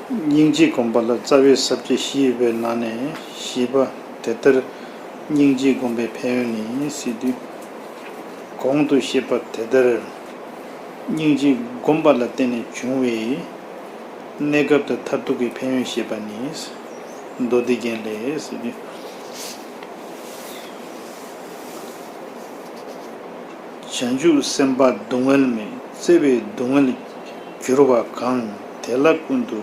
སྙིང་རྗེ་སྒོམ་པ་ལ་རྩ་བའི་ཟབ་ཁྱད་བཞི་ཡོད་པའི་ནང་ནས་བཞི་པ་དེ་ལྟར་སྙིང་རྗེ་སྒོམ་པའི་ཕན་ཡོན་ནི་སྲིད་དུས་གོང་དུ་བཤད་པ་དེ་ལྟར་སྙིང་རྗེ་སྒོམ་པ་ལ་བརྟེན་ནས་བྱུང་བའི་གནས་སྐབས་དང་མཐར་ཐུག་གི་ཕན་ཡོན་ཤེས་པ་ནི་མདོ་སྡེ་རྒྱན་ལས་སྲིད་དུས། བྱང་ཆུབ་སེམས་དཔའ་སྡུག་བསྔལ་མི་བརྩེ་བས་སྡུག་བསྔལ་གྱུར་པ་གང་དེ་ལ་ཀུན་ཏུ་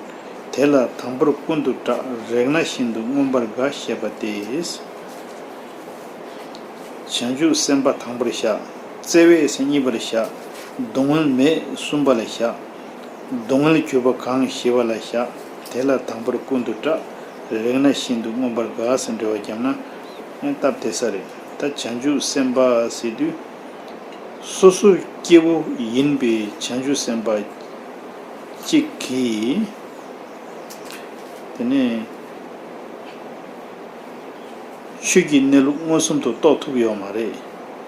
དེ་ལ་དང་པོར་ཀུན་ཏུ་སྐྲག་རེག་ན་ཤིན་ཏུ་མངོན་པར་དགའ་ཞེས་པ་སྟེ། བྱང་ཆུབ་སེམས་དཔའ་དང་པོར་བཤགས། བརྩེ་བས་སེམས་གཉིས་པར་བཤགས། སྡུག་བསྔལ་མི་སྲུན་པ་ལ་བཤགས། སྡུག་བསྔལ་གྱུར་པ་གང་ཞི་བ་ལ་བཤགས་དེ་ལ་དང་པོར་ཀུན་ཏུ་སྐྲག་རེག་ན་ཤིན་ཏུ་མངོན་པར་དགའ་ཟིན་འདྲི་བ་བརྒྱབ་ན། སྔོན་བཏབ་དེ་ས་རེད་ད་བྱང་ཆུབ་སེམས་དཔའ་ཟེར་དུས། སོ་སོ་སྐྱེ་བོ་ཡིན་པའི་བྱང་ཆུབ་སེམས་དཔའ་གཅིག་གིས། དེ་ནས། ཆོས་ཀྱི་གནས་ལུགས་མངོན་སུམ་དུ་རྟོགས་ཐུབ་ཡོད་མ་རེད།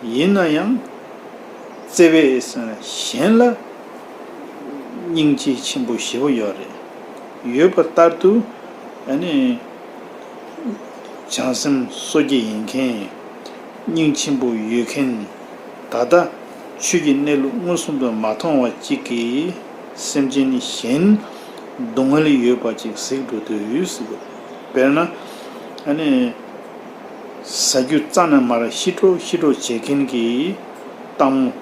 ཡིན་ན་ཡང། བརྩེ་བས་གཞན་ལ། སྙིང་རྗེ་ཆེན་པོ་ཞེ་པོ་ཡོད་རེད། ཡོད་པ་ལྟར་དུ། བྱང་སེམས་གསོ་སྐྱེ་ཡིན་མཁན། སྙིང་ཆེན་པོ་ཡོད་མཁན། ད་ལྟ་ཆོས་ཀྱི་གནས་ལུགས་མངོན་སུམ་དུ་མ་མཐོང་བ་གཅིག་གིས་སེམས་ཅན་གཞན་སྡུག་བསྔལ་ཡོད་པ་ཅིག་གཟིགས་འགྲོ་དུས། དཔེར་ན། ཟ་རྒྱུ་རྩ་ན་མར་ཤི་འགྲོ་ཤི་འགྲོ་བྱེད་མཁན་གྱི་སྟག་མོ།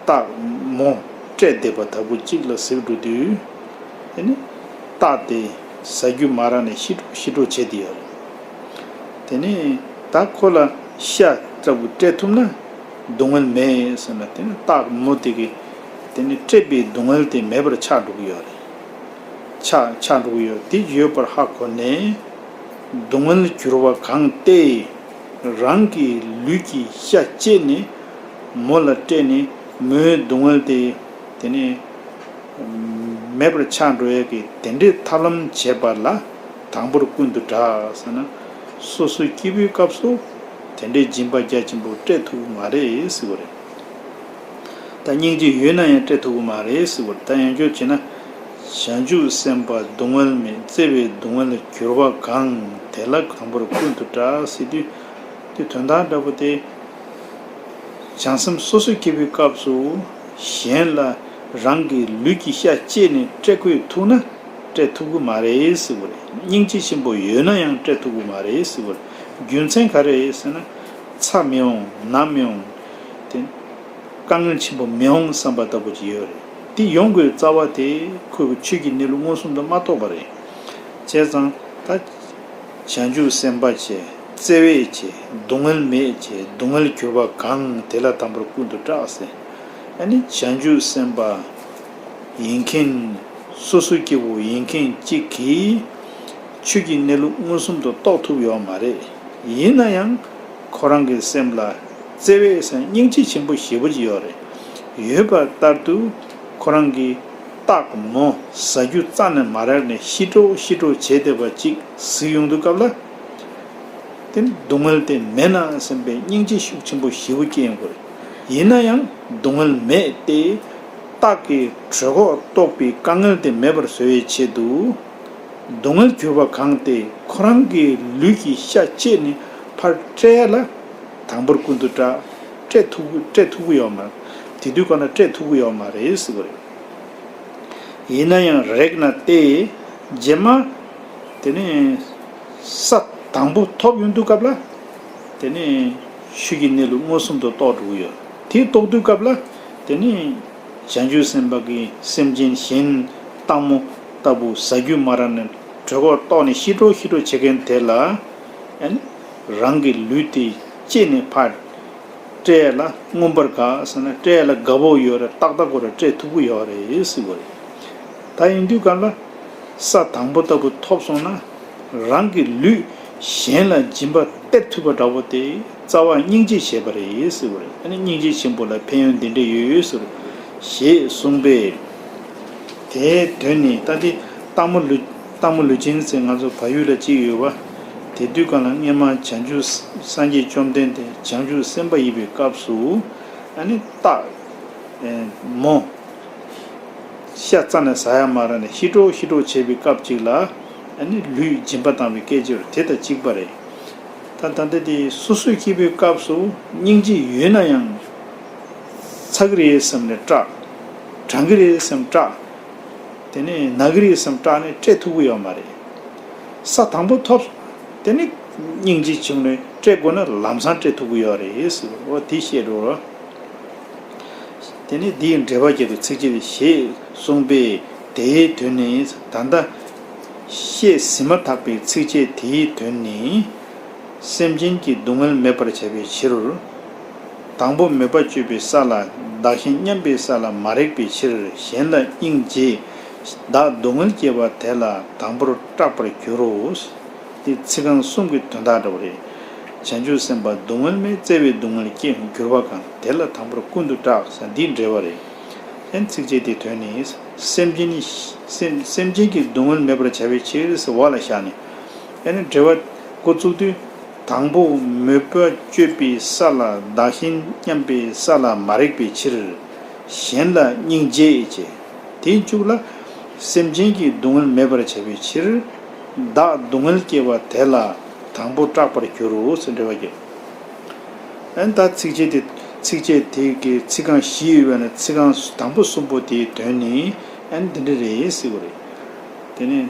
སྟག། མོ། སྤྲད་བསྡད་པ་ལྟ་བུ་གཅིག་ལ་གཟིགས་འགྲོ་དུས། སྟག་དེ། ཟ་རྒྱུ་མ་རག་ནས་ཤི་འགྲོ་ཤི་འགྲོ་བྱེད་དེ་ཡོད་རེད། དེ་ནས་ད་ཁོ་ལ་ཤ་ལྟ་བུ་སྤྲད་ཐུབ་ན་སྡུག་བསྔལ་མེད་ཟེར་ན་དེ་ནི་སྟག་མོ་དེ་གིས་དེ་ནི་སྤྲད་པའི་སྡུག་བསྔལ་དེ་མེད་པར་ཆགས་འགྲོ་གི་ཡོད་རེད། ཆགས་ཆགས་འགྲོ་གི་ཡོད་དེ་ཡོད་པར་ཧ་གོ་ནས་སྡུག་བསྔལ་གྱུར་བ་གང་སྟེ་རང་གི་ལུས་ཀྱི་ཤ་བཅད་ནས་མོ་ལ་སྤྲད་ནས་མོའི་སྡུག་བསྔལ་དེ། དེ་ནི། མེད་པར་ཆགས་འགྲོ་ཡས་ཀྱི་དེ་འདྲས་ཐབས་ལམ་བྱེད་པ་ལ་དང་པོར་ཀུན་ཏུ་བསྒྲགས་ཟེར་ན། སོ་སོའི་སྐྱེས་བུའི་སྐབས་སུ་དེ་འདྲས་སྦྱིན་པ་རྒྱ་ཆེན་པོ་སྤྲད་ཐུབ་མ་རེད་ཟེར་གོ་རེད། ད་སྙིང་རྗེ་ཡོད་ན་ཡང་སྤྲད་ཐུབ་ཀྱི་མ་རེད་ཟེར་གོ་རེད་ད་ཡང་ཁྱོད་བྱེད་ན། བྱང་ཆུབ་སེམས་དཔའ་སྡུག་བསྔལ་མེད་བརྩེ་བའི་སྡུག་བསྔལ་ལ་གྱུར་པ་གང་དེ་ལ་དང་པོར་ཀུན་ཏུ་བསྒྲགས་ཟེར་དུས་དོན་དག་འདྲ་པོ་སྟེ། བྱང་སེམས་སོ་སོའི་སྐྱེས་བུའི་སྐབས་སུ། གཞན་ལ་རང་གི་ལུས་ཀྱི་ཤ་བཅད་ནས་བཀྲེས་ཁོས་ཐུག་ན་བཀྲེས་ཐུབ་ཀི་མ་རེད་ཟེར་བ་རེད། སྙིང་རྗེ་ཆེན་པོ་ཡོད་ན་ཡང་བཀྲེས་ཐུབ་ཀི་མ་རེད་ཟེར་བ། རྒྱུ་མཚན་ག་རེད་ཟེར་ན། ཚ་མི་འོང་ན་མི་འོང། དེ། དཀའ་ངལ་ཆེན་པོ་མི་འོང་བསམ་པ་ལྟ་བུ་ཅིག་ཡོད་རེད། དེ་ཡོང་དགོས་རྩ་བ་དེ་ཁོས་ཁོའི་ཆོས་ཀྱི་གནས་ལུགས་མངོན་སུམ་དུ་མ་རྟོགས་པ་རེད། བྱས་ཙང་ད། བྱང་ཆུབ་སེམས་དཔའ་ཆེ་བརྩེ་བས་ཆེ་སྡུག་བསྔལ་མེད་ཆེ་སྡུག་བསྔལ་གྱུར་པ་གང་དེ་ལ་དམ་པར་ཀུན་ཏུ་སྐྲག་ཟེ་ཨ་ནི་བྱང་ཆུབ་སེམས་དཔའ་ཡིན་མཁན་སོ་སོའི་སྐྱེ་བོ་ཡིན་མཁན་གཅིག་གིས་ཆོས་ཀྱི་གནས་ལུགས་མངོན་སུམ་དུ་རྟོགས་ཐུབ་ཡོད་མ་རེད་ཡིན་ན་ཡང་ཁོ་རང་གི་སེམས་ལ་བརྩེ་བས་སྙིང་རྗེ་ཆེན་པོ་ཞེ་པོ་ཅིག་ཡོད་རེད་ཡོད་པ་ལྟར་དུ། ཁོ་རང་གིས། སྟག་མོ་ཟ་རྒྱུ་རྩ་ནས་མ་རེག་ནས་ཤི་ཀྲོ་ཤི་ཀྲོ་བྱས་བསྡད་པ་ཅིག་གཟིགས་ཡོང་དུས་སྐབས་ལ། དེ་ནི་སྡུག་བསྔལ་དེ་མེད་ན་སེམས་པའི་སྙིང་རྗེ་ཤུགས་ཆེན་པོ་བཞི་བོ་སྐྱེ་ཡོང་གི་རེད། ཡིན་ན་ཡང་སྡུག་བསྔལ་མེད་དེ། སྟག་གི་གྲོད་ཁོག་ལྟོགས་པའི་དཀའ་ངལ་དེ་མེད་པར་བཟོ་བའི་ཆེད་དུ། སྡུག་བསྔལ་གྱུར་པ་གང་སྟེ་ཁོ་རང་གི་ལུས་ཀྱི་ཤ་བཅད་ནས་ཕར་བསྐྲད་ལ། དང་པོར་ཀུན་ཏུ་བཀྲ། སྤྲད་ཐུབ་སྤྲད་ཐུབ་ཀྱི་ཡོད་མ་རེད། དེ་དུས་ཁོ་ན་སྤྲད་ཐུབ་ཀྱི་ཡོད་མ་རེད་ཟེར་གྱི་རེད། ཡིན་ན་ཡང་རེག་ན་ལྟས། རྗེས་མ། དེ་ནས། ས་དང་པོ་ཐོབ་ཡོང་དུས་སྐབས་ལ། དེ་ནས། ཤུལ་གྱི་གནས་ལུགས་མངོན་སུམ་དུ་རྟོགས་འགྲོ་གི་ཡོད། དེ་རྟོགས་དུས་སྐབས་ལ། དེ་ནས། བྱང་ཆུབ་སེམས་དཔའ་གྱི་སེམས་ཅན་གཞན། སྟག་མོ། ལྟ་བུ་ཟ་རྒྱུ་མ་ར་ནས་གྲོད་ཁོག་ལྟོགས་ནས་ཤི་འགྲོ་ཤི་འགྲོ་བྱེད་མཁན་དེ་ལ། ཨན། རང་གི་ལུས་དེ། ཅེས་ནས་ཕར། སྤྲད་ལ་མངོན་པར་དགའ་ཟེར་ན་སྤྲད་ལ་དགའ་བོ་ཡོད་རེད་ཏག་ཏག་གོ་རེ་སྤྲད་ཐུབ་གི་ཡོད་རེད་ཟེར་གོ་རེ། ད་ཡིན་དུས་ག་ལ། ས་དང་པོ་ལྟ་བུ་ཐོབ་སོང་ན། རང་གི་ལུས་གཞན་ལ་སྦྱིན་པ་སྟེར་ཐུབ་པ་འདྲ་བོ་དེ་རྩ་བ་སྙིང་རྗེ་བྱས་པ་རེད་ཟེར་གོ་རེ་ཨ་ནི་སྙིང་རྗེ་ཆེན་པོ་ལ་ཕན་ཡོན་འདི་འདྲ་ཡོད་ཟེར་རོ། ཞེས་གསུངས་པས། དེའི་དོན་ནི་ད་འདི་སྟག་མོ་ལུས། སྟག་མོ་ལུས་ཅན་ཟེར་ང་ཚོ་བ་ཡུལ་ལ་གཅིག་ཡོད་བ། དེ་དུས་གང་ལ་སྔན་མ་བྱང་ཆུབ་སངས་རྒྱས་བཅོམ་ལྡན་འདས་བྱང་ཆུབ་སེམས་དཔའ་ཡིན་པའི་སྐབས་སུ། ཨ་ནི་སྟག། མོ། ཤ་རྩ་ནས་ཟ་ཡ་མ་ར་ནས་ཤི་གྲོག་ཤི་གྲོག་བྱེད་པའི་སྐབས་ཅིག་ལ། ཨ་ནི་ལུས་སྦྱིན་པ་བཏང་བའི་སྐད་ཅིག་རོ་དེ་དང་གཅིག་པ་རེད། ད་ད་ལྟ་དེ་སོ་སོའི་སྐྱེ་བོའི་སྐབས་སུ་སྙིང་རྗེ་ཡོད་ན་ཡང། ཚ་གི་རེད་བསམ་ནས་སྐྲག། གྲང་གི་རེད་བསམ་སྐྲག། དེ་ནས་ནག་རིས་སམ་སྐྲ་ནི་སྐྲའི་ཐུག་པོ་ཡོད་མ་རེད། ས་དང་པོ་ཐོབ། དེ་ནས་སྙིང་རྗེ་ཆེན་མོའི་སྐྲའི་སྒོ་ན་ལམ་སང་སྐྲའི་ཐུག་པོ་ཡོད་རེད། འོ་དེ་བཤད་འགྲོ། དེ་ནས་དེའི་འགྲེལ་པ་བརྒྱད་དུ་ཚིགས་བཅད་ཞེས་གསུངས་པས་དེའི་དོན་ནི་ད་ལྟ་བཤད་ཟིན་མ་ཐག་པའི་ཚིགས་བཅད་དེའི་དོན་ནི། སེམས་ཅན་གྱི་སྡུག་བསྔལ་མེད་པར་བྱ་བའི་ཕྱིར། དང་པོ་མོས་པ་སྤྱོད་པའི་ས་ལ་བདག་གཞན་མཉམ་པའི་ས་ལ་མ་རེག་པའི་ཕྱིར་གཞན་ལ་སྙིང་རྗེས་བདག་སྡུག་བསྔལ་སྐྱེ་བ་དེ་ལ་དང་པོར་སྐྲག་པར་འགྱུར་རོ། འདི་ཚིག་རྐང་གསུམ་གྱི་དོན་དག་འདྲ་བ་རེད། བྱང་ཆུབ་སེམས་དཔའ་སྡུག་བསྔལ་མས་བཙལ་བའི་སྡུག་བསྔལ་སྐྱེ་འགྱུར་བ་གང་དེ་ལ་དང་པོར་ཀུན་ཏུ་སྐྲག་ས་འདི་འདྲ་བ་རེད། ལན། ཚིགས་བཅད་འདིའི་དོན་ནི། སེམས་ཅན་ནི། སེམས་ཅན་གྱི་སྡུག་བསྔལ་མེད་པར་བྱ་བའི་ཕྱིར་ཟེར་བ་ལ་བཞག་ནས། ཡང་ན་འགྲེལ་བ། འགོ་བཙུགས་དུས། དང་པོ་མོས་པ་སྤྱོད་པའི་ས་ལ་བདག་གཞན་མཉམ་པའི་ས་ལ་མ་རེག་པའི་ཕྱིར། གཞན་ལ་སྙིང་རྗེ་བསྐྱེད་དེ་བཅུག་ལ། སེམས་ཅན་གྱི་སྡུག་བསྔལ་མེད་པར་བྱ་བའི་ཕྱིར། བདག་སྡུག་བསྔལ་སྐྱེ་བ་དེ་ལ་དང་པོ་སྐྲག་པར་འགྱུར་རོ་ཞེས་འགྲེལ་བ་བརྒྱད། ཨན་ད་ཚིགས་བཅད་དེ། ཚིགས་བཅད་དེ་གའི་ཚིག་རྐང་བཞི་ཡོད་པས་ན་ཚིག་རྐང་དང་པོ་གསུམ་པོ་དེའི་དོན་ནི་ཨན་འདི་འདྲ་རེད་ཟེར་དགོས་རེད། དེ་ནས་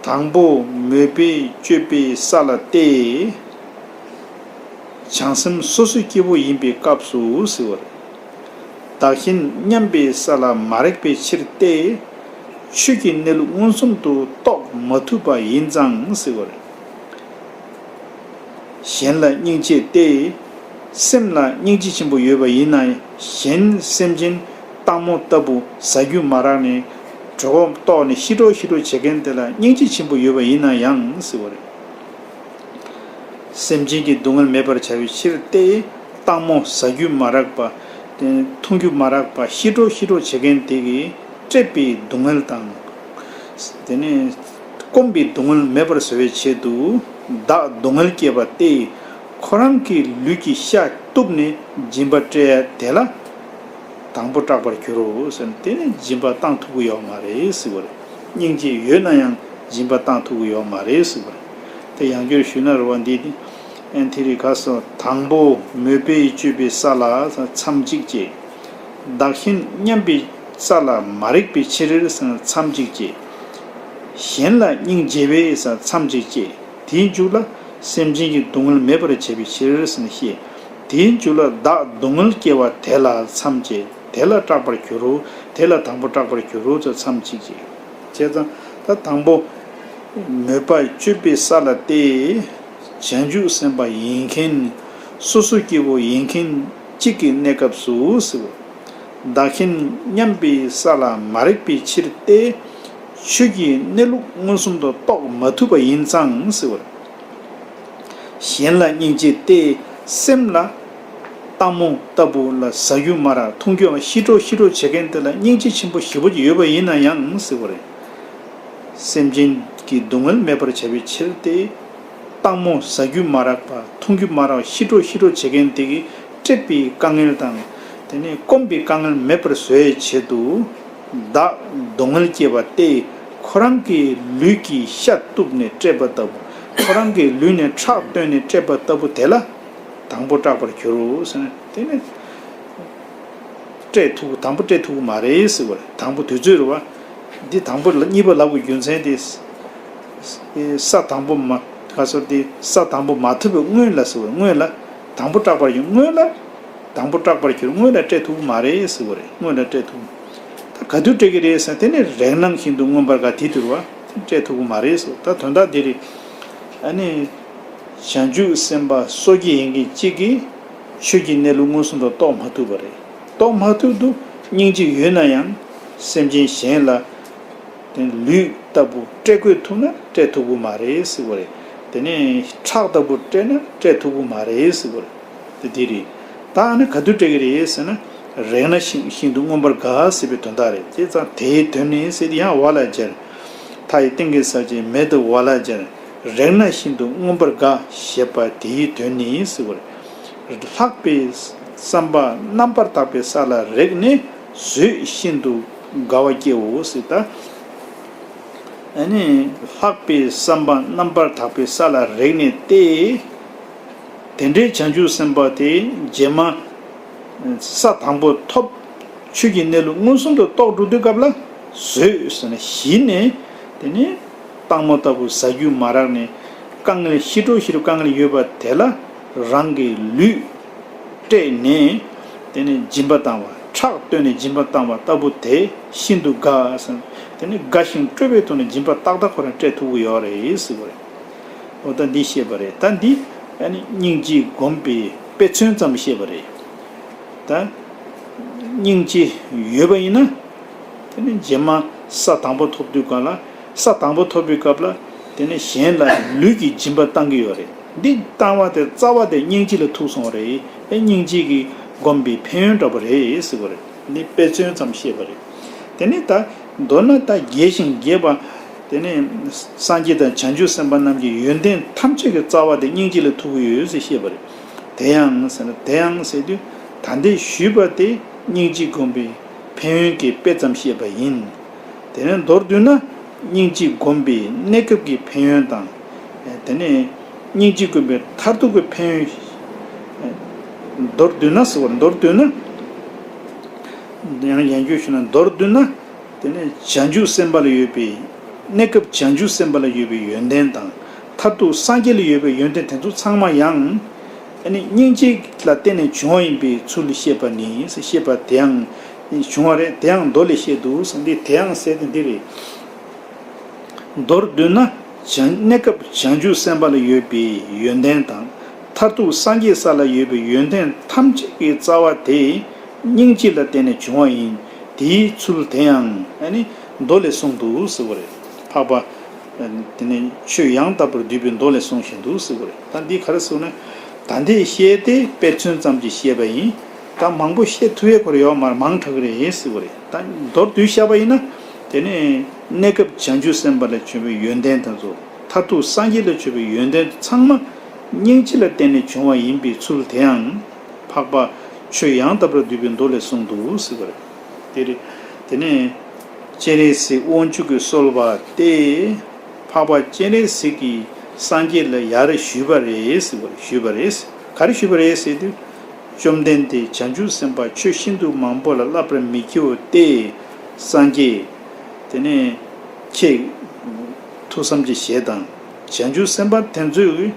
དང་པོ་མོས་པས་སྤྱོད་པའི་ས་ལ་བལྟས། བྱང་སེམས་སོ་སོའི་སྐྱེ་བོ་ཡིན་པའི་སྐབས་སུ་ཟེར་བ་རེད། བདག་གཞན་མཉམ་པའི་ས་ལ་མ་རེག་པའི་ཕྱིར་བལྟས། ཆོས་ཀྱི་གནས་ལུགས་མངོན་སུམ་དུ་རྟོགས་མ་ཐུབ་པ་ཡིན་ཙང་ཟེར་བ་རེད། གཞན་ལ་སྙིང་རྗེས་བལྟས། སེམས་ལ་སྙིང་རྗེ་ཆེན་པོ་ཡོད་པ་ཡིན་ན་གཞན་སེམས་ཅན་སྟག་མོ་ལྟ་བུ་ཟ་རྒྱུ་མ་རག་ནས་གྲོད་ཁོག་ལྟོགས་ནས་ཤི་གྲོག་ཤི་གྲོག་བྱེད་མཁན་དེ་ལ་སྙིང་རྗེ་ཆེན་པོ་ཡོད་པ་ཡིན་ན་ཡང་སྲིད་བོ། སེམས་ཅན་གྱི་སྡུག་བསྔལ་མེད་པར་བྱ་བའི་ཕྱིར་ཏེ། སྟག་མོ་ཟ་རྒྱུ་མ་རག་པ། འཐུང་རྒྱུ་མ་རག་པ་ཤི་གྲོག་ཤི་གྲོག་བྱེད་མཁན་དེ་གིས་བཀྲེས་པའི་སྡུག་བསྔལ་དང། དེ་ནས་སྐོམ་པའི་སྡུག་བསྔལ་མེད་པར་བཟོ་བའི་ཆེད་དུ་བདག་སྡུག་བསྔལ་བསྐྱེད་པ་སྟེ། ཁོ་རང་གི་ལུས་ཀྱི་ཤ་གཏུབས་ནས་སྦྱིན་པ་སྤྲད་དེ་ལ། དང་པོ་སྐྲག་པར་འགྱུར་རོ་ཟེར་ནས་དེ་ནི་སྦྱིན་པ་བཏང་ཐུབ་ཀི་ཡོག་མ་རེད་ཟིག་བར། སྙིང་རྗེ་ཡོད་ན་ཡང་སྦྱིན་པ་བཏང་ཐུབ་ཀི་ཡོག་མ་རེད་ཟིག་བར། དེ་ཡང་བསྐྱར་ཞུས་ན་རུ་བ་འདི་ནི། ཨན་དྷི་རི་ཁ་སོ་དང་པོ་མོས་པས་སྤྱོད་པའི་ས་ལ་མཚམས་གཅིག་ཅེས། བདག་གཞན་མཉམ་པའི་ས་ལ་མ་རེག་པའི་ཕྱིར་མཚམས་གཅིག་ཅེས། གཞན་ལ་སྙིང་རྗེ་བས་མཚམས་གཅིག་ཅེས་དེའི་མཇུག་ལ་སེམས་ཅན་གྱི་སྡུག་བསྔལ་མེད་པར་བྱེད་པའི་ཕྱིར་ཞེས། དེའི་མཇུག་ལ་བདག་སྡུག་བསྔལ་སྐྱེ་བ་དེ་ལ་མཚམས་ཅི་དེ་ལ་སྐྲག་པར་གྱུར་རོ། དེ་ལ་དང་པོ་སྐྲག་པར་གྱུར་རོ་ཚོལ་མཚམས་ཅི་ཅེས་བྱས། ད་དང་པོ། མོས་པ་སྤྱོད་པའི་ས་ལ་སྟེ། བྱང་ཆུབ་སེམས་དཔའ་ཡིན་མཁན་ནི། སོ་སོ་སྐྱེ་བོ་ཡིན་མཁན་གཅིག་གི་གནས་སྐབས་སུ། བདག་མཁྱེན་སྙམ་པའི་ས་ལ་མ་རེག་པའི་ཕྱིར་ཏེ། ཆོས་ཀྱི་གནས་ལུགས་མངོན་སུམ་དུ་རྟོགས་མ་ཐུབ་པ་ཡིན་ཙང། གཞན་ལ་སྙིང་རྗེ་སྟེ། སེམས་ལ། སྟག་མོ་ལྟ་བུ་ལ་ཟ་རྒྱུ་སྨྲ་ར་འཐུང་རྒྱུའམ་ཤི་ཁྲོ་ཤི་ཁྲོ་བྱེད་མཁན་དེ་ལ་སྙིང་རྗེ་ཆེན་པོ་ཞི་བ་ཡོད་པ་ཡིན་ན་ཡང་སྲིད་པ་རེད། སེམས་ཅན་གྱི་སྡུག་བསྔལ་མེད་པར་བྱ་བའི་ཕྱིར་ཏེ། སྟག་མོ་ཟ་རྒྱུ་མ་རག་པ་འཐུང་རྒྱུ་མ་རག་ཤི་ཁྲོ་ཤི་ཁྲོ་བྱེད་མཁན་དེ་གིས་སྤྲད་པའི་དཀའ་ངལ་དང། དེ་ནས་སྐོམ་པའི་དཀའ་ངལ་མེད་པར་བཟོ་བའི་ཆེད་དུ། བདག་སྡུག་བསྔལ་སྐྱེས་པ་སྟེ་ཁོ་རང་གི་ལུས་ཀྱི་ཤ་གཏུབས་ནས་བསྐྲད་པ་ལྟ་བུ་ཁོ་རང་གི་ལུས་ནས་ཁྲག་བཏོན་ནས་བསྐྲད་པ་ལྟ་བུ་དེ་ལ་དང་པོ་སྐྲག་པར་གྱུར། དེ་ནི་བསྐྲད་ཐུབ་དང་པོ་བསྐྲད་ཐུབ་མ་རེད་ཟེར་བ་རེད་དང་པོ་དུས་ཚོད་རེད་བ། འདི་དང་པོ་གཉིས་པ་ལབ་དགོས་རྒྱུ་མཚན་དེ། ས་དང་པོ་མ་ག་ཚོར་དེ་ས་དང་པོ་མ་ཐུབ་པའི་སྔོན་ལ་ཟེར་བ་རེད་སྔོན་ལ་དང་པོ་སྐྲག་པར་གྱུར་སྔོན་ལ། དང་པོ་སྐྲག་པར་གྱུར་སྔོན་ལ་སྤྲད་ཐུབ་མ་རེད་ཟེར་བ་རེད་སྔོན་ལ་སྤྲད་ཐུབ། ད་ག་དུས་སྤྲད་གི་རེད་ཟེར་དེ་ནི་རེག་ནང་བཞིན་འདུག་མངོན་པར་ག་དེ་དུས་བ་དེ་སྤྲད་ཐུབ་མ་རེད་ཟེར་ད་དོན་དག་དེ་རེད། ཨ་ནི། བྱང་ཆུབ་སེམས་དཔའ་སོ་སྐྱེ་ཡིན་གྱི་གཅིག་གིས་ཆོས་ཀྱི་གནས་ལུགས་མངོན་སུམ་དུ་རྟོགས་མ་ཐུབ་པ་རེད་རྟོགས་མ་ཐུབ་དུ་སྙིང་རྗེ་ཡོད་ན་ཡང་སེམས་ཅན་གཞན་ལ་དེ་ལུས་ལྟ་བུ་སྤྲད་དགོས་ཐུག་ན་སྤྲད་ཐུབ་མ་རེད་ཟེར་བ་རེད་དེ་ནི་ཁྲག་ལྟ་བུ་སྤྲད་ན་སྤྲད་ཐུབ་མ་རེད་ཟེར་བ་རེད། དེ་དེ་རེད། ད་ཨ་ནི་ག་དུས་སྤྲད་གི་རེད་ཟེར་ན། རེག་ན་ཤིང་ཤིང་དུ་མངོན་པར་དགའ་ཟེར་བའི་དོན་དག་རེད་ཅེས་ཙང་དེའི་དོན་ནི་སེ་ཏི་ཡང་བ་ལ་སྦྱར། མཐའ་ཡི་སྟེང་གི་ས་བཅད་མེད་དུ་བ་ལ་སྦྱར། རེག་ན་ཤིན་ཏུ་མངོན་པར་དགའ་ཞེས་པ་དེའི་དོན་ནི་ཟེར་བར། ལྷག་པའི་བསམ་པ་རྣམ་པར་དག་པའི་ས་ལ་རེག་ནས་བཟོད་ཤིན་ཏུ་དགའ་བ་སྐྱེའོ་ཟེར་ད། ཨ་ནི། ལྷག་པའི་བསམ་པ་རྣམ་པར་དག་པའི་ས་ལ་རེག་ནས་ཏེ། དེ་འདྲའི་བྱང་ཆུབ་སེམས་དཔའ་དེ་རྗེས་མ། ས་དང་པོ་ཐོབ། ཆོས་ཀྱི་གནས་ལུགས་མངོན་སུམ་དུ་རྟོགས་འགྲོ་དུས་སྐབས་ལ། བཟོད་ཟོན་བཞི་ནི། དེ་ནི། སྟག་མོ་ལྟ་བུ་བཟའ་རྒྱུ་མ་རག་ནས། དཀའ་ངལ་ཤི་སྤྲོ་བཞི་རུ་དཀའ་ངལ་ཡོད་པ་དེ་ལ། རང་གི་ལུས། སྤྲད་ནས། དེ་ནི་སྦྱིན་པ་བཏང་བ། ཁྲག་བཏོན་ནས་སྦྱིན་པ་བཏང་བ་ལྟ་བུ་དེ་ཤིན་ཏུ་དགའ། དེ་ནི་དགའ་ཞིང་སྤྲོས་པའི་ཐོག་ནས་སྦྱིན་པ་ཏག་ཏག་ཁོ་རང་སྤྲད་ཐུབ་ཀྱི་ཡོད་རེད། ཨོ་ད་འདི་ཤེས་པ་རེད་ད་འདི། སྙིང་རྗེ་སྒོམ་པའི་དཔེ་མཚོན་ཙམ་ཤེས་པ་རེད་ད། སྙིང་རྗེ་ཡོད་པ་ཡིན་ན། དེ་ནི་རྗེས་མ་ས་དང་པོ་ཐོབ་དུས་ག་ལ། ས་དང་པོ་ཐོབ་པའི་སྐབས་ལ། དེ་ནི་གཞན་ལ་ལུས་ཀྱི་སྦྱིན་པ་བཏང་གི་ཡོད་རེད་འདི། བཏང་བ་དེ་རྩ་བ་དེ་སྙིང་རྗེ་ལ་ཐུག་སོང་བ་རེད། སྙིང་རྗེ་གིས་སྒོམ་པའི་ཕན་ཡོན་འདྲ་པོ་རེད་ཟེར་བ་རེད་འདི་དཔེ་མཚོན་ཙམ་ཤེས་པ་རེད། དེ་ནས་ད། མདོར་ན་ད་རྒྱས་ཤིང་རྒྱས་པ། དེ་ནས། སངས་རྒྱས་དང་བྱང་ཆུབ་སེམས་དཔའ་རྣམས་ཀྱི་ཡོན་ཏན་ཐམས་ཅད་ཀྱི་རྩ་བ་དེ་སྙིང་རྗེ་ལས་ཐོབ་ཀྱི་ཡོད་ཟེར་ཤེས་པ་རེད། དེ་ཡང་ཟེར་ན་དེ་ཡང་ཟེར་དུས་ད་ལྟའི་ཞུས་པ་དེ་སྙིང་རྗེ་བསྒོམ་པའི་ཕན་ཡོན་གྱི་དཔེ་ཙམ་བཤད་པ་ཡིན། དེ་ནས་མདོར་བསྡུས་ན། སྙིང་རྗེ་བསྒོམ་པའི་གནས་སྐབས་ཀྱི་ཕན་ཡོན་དང། དེ་ནས། སྙིང་རྗེ་བསྒོམ་པའི་མཐར་ཐུག་གི་ཕན་ཡོན། མདོར་བསྡུས་ན། ཡང་ཡན་རྒྱུད་ཞུ་ན་མདོར་བསྡུ་ན། དེ་ནི་བྱང་ཆུབ་སེམས་དཔའ་ལ་ཡོད་པའི་གནས་སྐབས་བྱང་ཆུབ་སེམས་དཔའ་ལ་ཡོད་པའི་ཡོན་ཏན་དང། མཐར་ཐུག་སངས་རྒྱས་ལ་ཡོད་པའི་ཡོན་ཏན་དེ་ཚོ་ཚང་མ་ཡང། ནི་སྙིང་རྗེ་ལ་བརྟེན་ནས་བྱུང་བ་ཡིན་པའི་ཚུལ་བཤད་པ་ནི་ཤེས་པ་དེའང་བྱུང་བ་རེད་དེའང་མདོ་ལས་བཤད་འདུག་གསང་འདི་དེའང་གསལ་དེ་འདི་རེད། མདོར་བསྡུ་ན། གནས་སྐབས་བྱང་ཆུབ་སེམས་དཔའ་ལ་ཡོད་པའི་ཡོན་ཏན་དང། མཐར་ཐུག་སངས་རྒྱས་ས་ལ་ཡོད་པའི་ཡོན་ཏན་ཐམས་ཅད་ཀྱི་རྩ་བ་དེ། སྙིང་སྐྱིད་ལ་བརྟེན་ནས་བྱུང་བ་ཡིན། དེའི་ཚུལ་དེ་ཡང། ཨ་ནི། མདོ་ལས་གསུངས་འདུག་ཟེར་བ་རེད། འཕགས་པ། དེ་ནི། ཆོས་ཡང་དག་པར་བསྡུས་པའི་མདོ་ལས་གསུང་བཞིན་འདུག་ཟེར་བ་རེད། ད་འདི་ག་རེ་ཟེར་བ་ན། ད་འདི་བཤད་དེ་དཔེ་མཚོན་ཙམ་གྱིས་བཤད་པ་ཡིན། ད་མང་པོ་བཤད་ཐུ་བའི་གོ་རེ་ཡོད་མ་རེད་མང་དྲགས་རེད་ཟེར་བ་རེད། ད་མདོར་བསྡུས་བཤད་པ་ཡིན་ན། དེ་ནི། གནས་སྐབས་བྱང་ཆུབ་སེམས་དཔའ་ལས་བྱོན་པའི་ཡོན་ཏན་དང་ཚོགས། མཐར་ཐུག་སངས་རྒྱས་ལས་བྱོན་པའི་ཡོན་ཏན་ཚང་མ། སྙིང་སྐྱིད་ལ་བརྟེན་ནས་བྱུང་བ་ཡིན་པའི་ཚུལ་དེའང། འཕགས་པ་ཆོས་ཡང་དག་པར་བསྡུས་པའི་མདོ་ལས་གསུངས་འདུག་ཟེར་བ་རེད། དེ་རེད། དེ་ནས། སྤྱན་རས་གཟིགས་དབང་ཕྱུག་གིས་གསོལ་བ་སྟེ། འཕགས་པ་སྤྱན་རས་གཟིགས་ཀྱིས་སངས་རྒྱས་ལ་ཡར་རེ་ཞུས་པ་རེད་ཟེར་བ་རེད་ཞུས་པ་རེད། ག་རེ་ཞུས་པ་རེད་ཟེར་དུས། བཅོམ་ལྡན་འདས་བྱང་ཆུབ་སེམས་དཔའ་ཆོས་ཤིན་ཏུ་མང་པོ་ལ་བསླབ་པར་མི་བགྱིའོ་སྟེ། སངས་རྒྱས། དེ་ནས། ཁྱེད། ཐུགས་བསམ་གྱི་ཞལ་དང། བྱང་ཆུབ་སེམས་དཔའ་དེ་ཚོས།